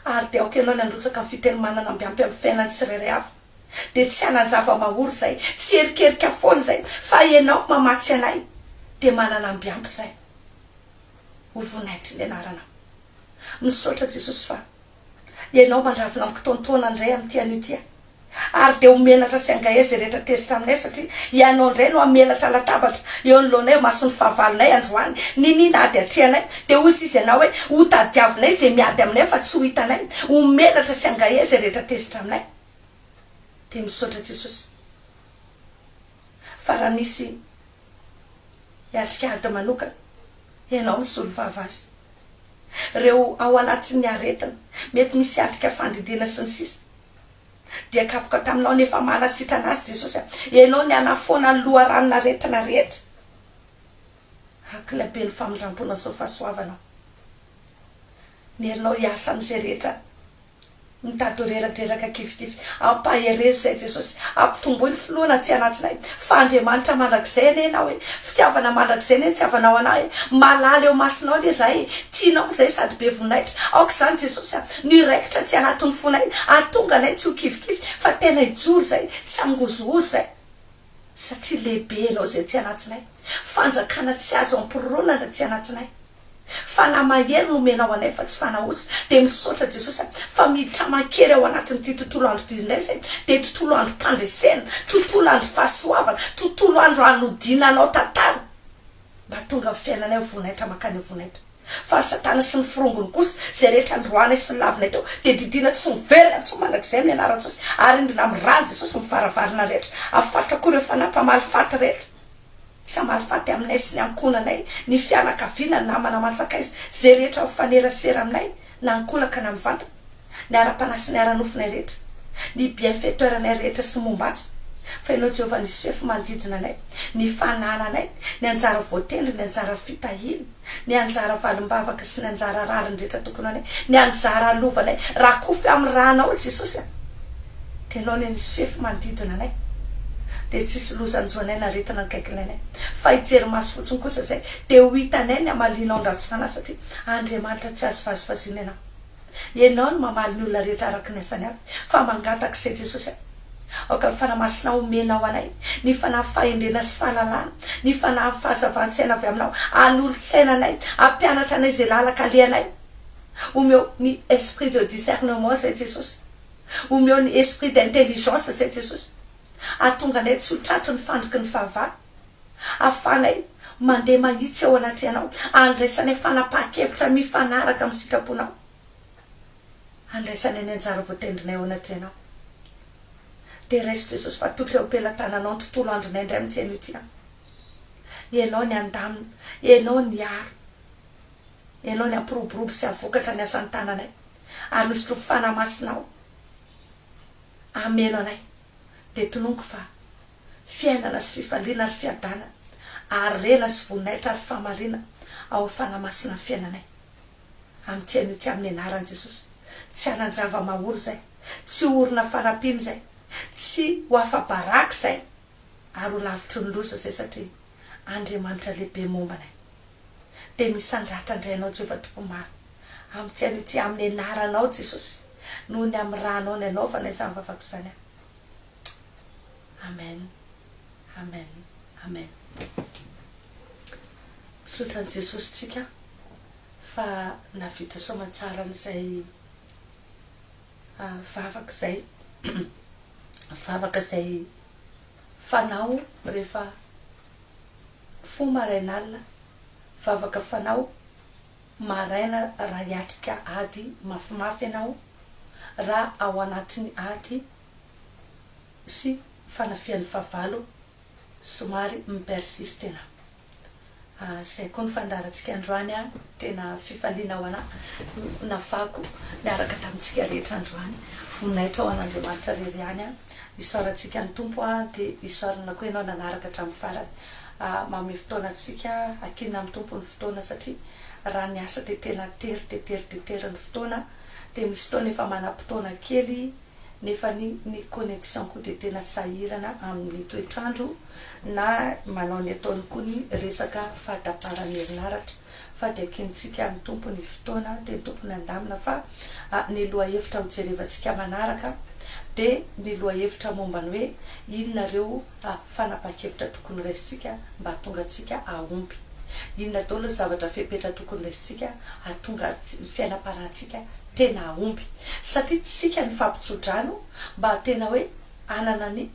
Ary dia aoka ianao ny handrotsaka ny fiteny manana mby ampy amin'ny fiainan'ny tsirairay hafa. Dia tsy hanan-java-mahory izay, tsy erikerika foana izay, fa ianao mamatsy anay dia manana mby ampy izay. Ho voninahitry ny anaranao. Misaotra Jesosy fa Ianao mandravina ampy taontaona indray amin'ity anio ity aho. ary dia ho menatra sy hangaia izay rehetra tezitra aminay satria ianao indray no hamelatra latabatra eo anoloanay eo mason'ny fahavalonay androany niniana ady atrehanay dia hoy sisa ianao hoe ho tadiavinay izay miady aminay fa tsy ho hitanay ho menatra sy hangaia izay rehetra tezitra aminay dia misaotra Jesosy fa raha misy hiatrika ady manokana ianao misolovava azy ireo ao anatin'ny aretina mety misy hiatrika fandidiana sy ny sisa dia kapoka taminao ny efa maha nasitrana azy Jesosy a! Ianao ny hanafoana ny loharanon'aretina rehetra. Hakila be ny famindramponao sy ny fahasoavanao. Ny herinao hiasa amin'izay rehetra mitady ho reradreraka kifikify. Ampaherezo izay Jesosy. Ampitomboy ny finoana aty anatsinay fa Andriamanitra mandrakizay anie Ianao e! Fitiavana mandrakizay anie ny hitiavanao anah e! Malala eo masonao anie izahay e! Tianao izahay sady be voninahitra. Aoka izany Jesosy a! Ny raikitra tsy anatin'ny fonay hahatonga anay tsy ho kivikivy fa tena hijoro izay, tsy hangozohozo izay. Satria lehibe Ianao izay tsy anatsinay. Fanjakana tsy azo ampironana tsy anatsinay. Fanahy mahery no omenao anay fa tsy fanahy osa. Dia misaotra Jesosy a, fa miditra aman-kery ao anatin'ity tontolo andro ity indray izay. Dia tontolo androm-pandresena, tontolo andro fahasoavana, tontolo andro hanodiana Anao tantara. Mba tonga amin'ny fiainanay ho voninahitra mankany amin'ny voninahitra. Fa ny satana sy ny forongony kosa, izay rehetra noroahanay sy nolavinay teo, dia didiana tsy ho velona intsony mandrakizay amin'ny anaran'i Jesosy, ary indrina amin'ny ran'i Jesosy mivaravarana rehetra, ary fatratra koa ireo fanahy mpamaly faty rehetra, tsy hamaly faty aminay sy ny ankohonanay, ny fianakaviana, ny namana aman-tsakaiza, izay rehetra mifanerasera aminay, na ankolaka na mivantana, ny ara-panahy sy ny ara-nofonay rehetra, ny bienfaiteur-nay rehetra sy momba azy, fa Ianao Jehovah nisy fefy manodidina anay, ny fanana anay, ny anjara voatendry, ny anjara fitahiana, ny anjara valim-bavaka sy ny anjara rariny rehetra tokony ho anay, ny anjara alovanay, rakofy amin'ny ranao Jesosy a! Ianao anie nisy fefy manodidina anay dia tsy hisy loza hanjo anay na aretina hankaiky ilainay, fa hijery maso fotsiny kosa izay dia ho hitanay ny hamalianao ny ratsy fanahy satria Andriamanitra tsy azo vazivaziana ianao. Ianao no mamaly ny olona rehetra araka ny asany avy, fa mangataka izay Jesosy aho. Aoka ny Fanahy Masina homenao anay ny fanahy fahendrena sy fahalalana, ny fanahin'ny fahazavan-tsaina avy aminao hanolotsaina anay, hampianatra anay izay lalaka alehanay. Omeo ny esprit de discernement izay Jesosy. Omeo ny esprit d'intelligence izay Jesosy. Hahatonga anay tsy ho tratry ny fandriky ny fahavalo. Ahafahanay mandeha mahitsy ao anatrehanao. Andraisanay fanapahan-kevitra mifanaraka amin'ny sitraponao. Andraisanay ny anjara voatendrinay ao anatrehanao. Dia raiso Jesosy fa toky eo am-pelatananao ny tontolo andronay indray amin'ity anio ity an. Ianao ny andamina, Ianao ny hiaro, Ianao ny hampiroborobo sy hahavokatra ny asan'ny tananay, ary misotro ny Fanahy Masinao hameno anay. Dia tononiko fa Fiainana sy fifaliana ary fiadanana, harena sy voninahitra ary fahamarinana ao amin'ny Fanahy Masina ny fiainanay. Amin'ity anio ity amin'ny anaran'i Jesosy. Tsy hanan-java-mahory izay, tsy ho orina fanampiana izay, tsy ho afa-baraka izay ary ho lavitry ny loza izay satria Andriamanitra lehibe momba anay. Dia misandratra indray ianao Jehovah Tompo maro amin'ity anio ity amin'ny anaranao Jesosy noho ny amin'ny ranao nianaovana izany vavaka izany aho. Amen Amen Amen Misaotra an'i Jesosy tsika fa nahavita soamatsara an'izay vavaka izay vavaka izay fanao rehefa mifoha maraina alina vavaka fanao maraina raha hiatrika ady mafimafy ianao raha ao anatin'ny ady sy fanafihan'ny fahavalo somary mi-persiste ela. Izay koa ny fandaharantsika androany an! Tena fifaliana ho anà navahako niaraka tamintsika rehetra androany. Voninahitra ho an'Andriamanitra irery ihany an! Isaorantsika ny Tompo an! Dia isaorana koa ianao nanaraka hatramin'ny farany. Manome fotoana antsika hakiana amin'ny Tompo ny fotoana satria raha ny asa dia tena tery dia tery dia tery ny fotoana dia misy fotoana efa manam-potoana kely nefa ny ny connexion-ko dia tena sahirana amin'ny toetr'andro na manao ny ataony koa ny resaka fahataparan'ny herinaratra fa dia kiantsika amin'ny Tompo ny fotoana dia ny Tompo nandamina fa ny lohahevitra hojerevantsika manaraka dia ny lohahevitra momba ny hoe inona ireo fa fanapahan-kevitra tokony raisintsika mba hahatonga antsika hahomby. Inona daholo ny zavatra fepetra tokony raisintsika hahatonga ny fiainam-panahintsika tena hahomby? Satria tsy isika no fampitso-drano mba hahatena hoe hanana ny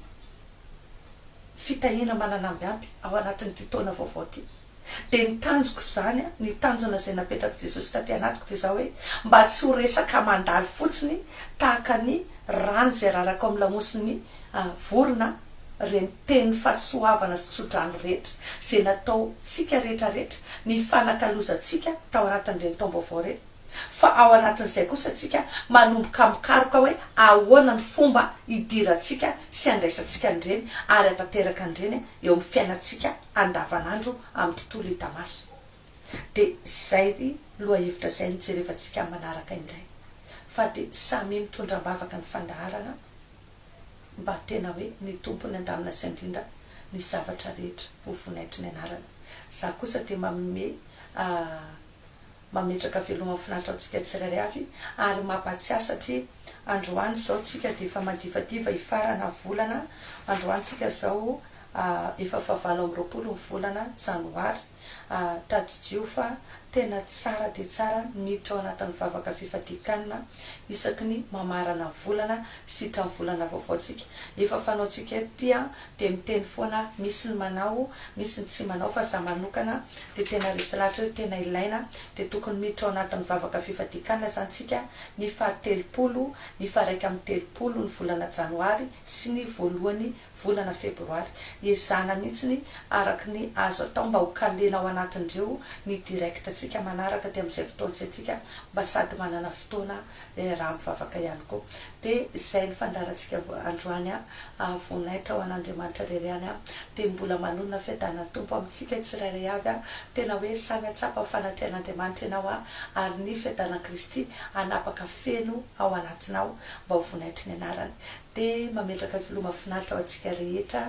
fitahiana mananamby ampy ao anatin'ity taona vaovao ity. dia ny tanjoko izany, ny tanjona izay napetrak'i Jesosy taty anatiko dia izao hoe, mba tsy ho resaka mandalo fotsiny tahaka ny rano izay araraka ao amin'ny lamosin'ny vorona ireny tenin'ny fahasoavana sy tsodrano rehetra izay nataontsika rehetra rehetra, ny fanakalozantsika tao anatin'ireny taom-baovao ireny, fa ao anatin'izay kosa isika manomboka mikaroka hoe ahoana ny fomba hidirantsika sy handraisantsika an'ireny ary hatanteraka an'ireny eo amin'ny fiainantsika andavanandro amin'ny tontolo hita maso. Dia izay lohahevitra izay no jerevantsika manaraka indray. Fa dia samia mitondra am-bavaka ny fandaharana mba tena hoe ny Tompo ny andamina sy andrindra ny zavatra rehetra ho vonaitry ny anarany. Za kosa dia manome. mametraka veloma finaritra antsika tsirairay avy ary mampahatsiahy satria androany izao tsika dia efa madivadiva hifarana volana androany tsika izao efa fahavalo amby roapolo ny volana janoary tadidio fa tena tsara dia tsara niditra ao anatin'ny vavaka fifadian-kanina isaky ny mamarana ny volana sy hitrany volana vaovao tsika efa fanaontsika ety dia miteny foana misy ny manao misy ny tsy manao fa za manokana dia tena resy lahatra hoe tena ilaina dia tokony miditra ao anatin'ny vavaka fifadian-kanina zany tsika ny faha telopolo ny faha iraika amby telopolo ny volana janoary sy ny voalohany volana febroary ezahana mihintsiny araka ny azo atao mba ho kalena ao anatin'ireo ny direct tsika manaraka dia amin'izay fotoana izay tsika mba sady manana fotoana dia raha mivavaka ihany koa. Dia izay ny fandaharantsika androany an, ary voninahitra ho an'Andriamanitra irery ihany an, dia mbola manonona fiadanan'ny Tompo amintsika tsirairay avy an, tena hoe samy hatsapa ny fanatrehan'Andriamanitra ianao an, ary ny fiadanan'i Kristy hanapaka feno ao anatinao mba ho vonaitry ny anarany. Dia mametraka ny Filoha mahafinaritra ho antsika rehetra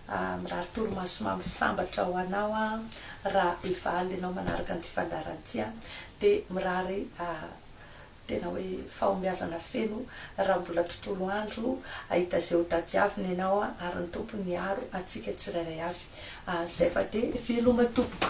an, mirary torimaso mamy sambatra ho anao an, raha efa alina ianao manaraka an'ity fandaharana ity an, dia mirary. Tena hoe fahombiazana feno raha mbola tontolo andro ahita izay ho tadiavina ianao ary ny Tompo ny hiaro antsika tsirairay avy. Zay fa dia veloma tompoko.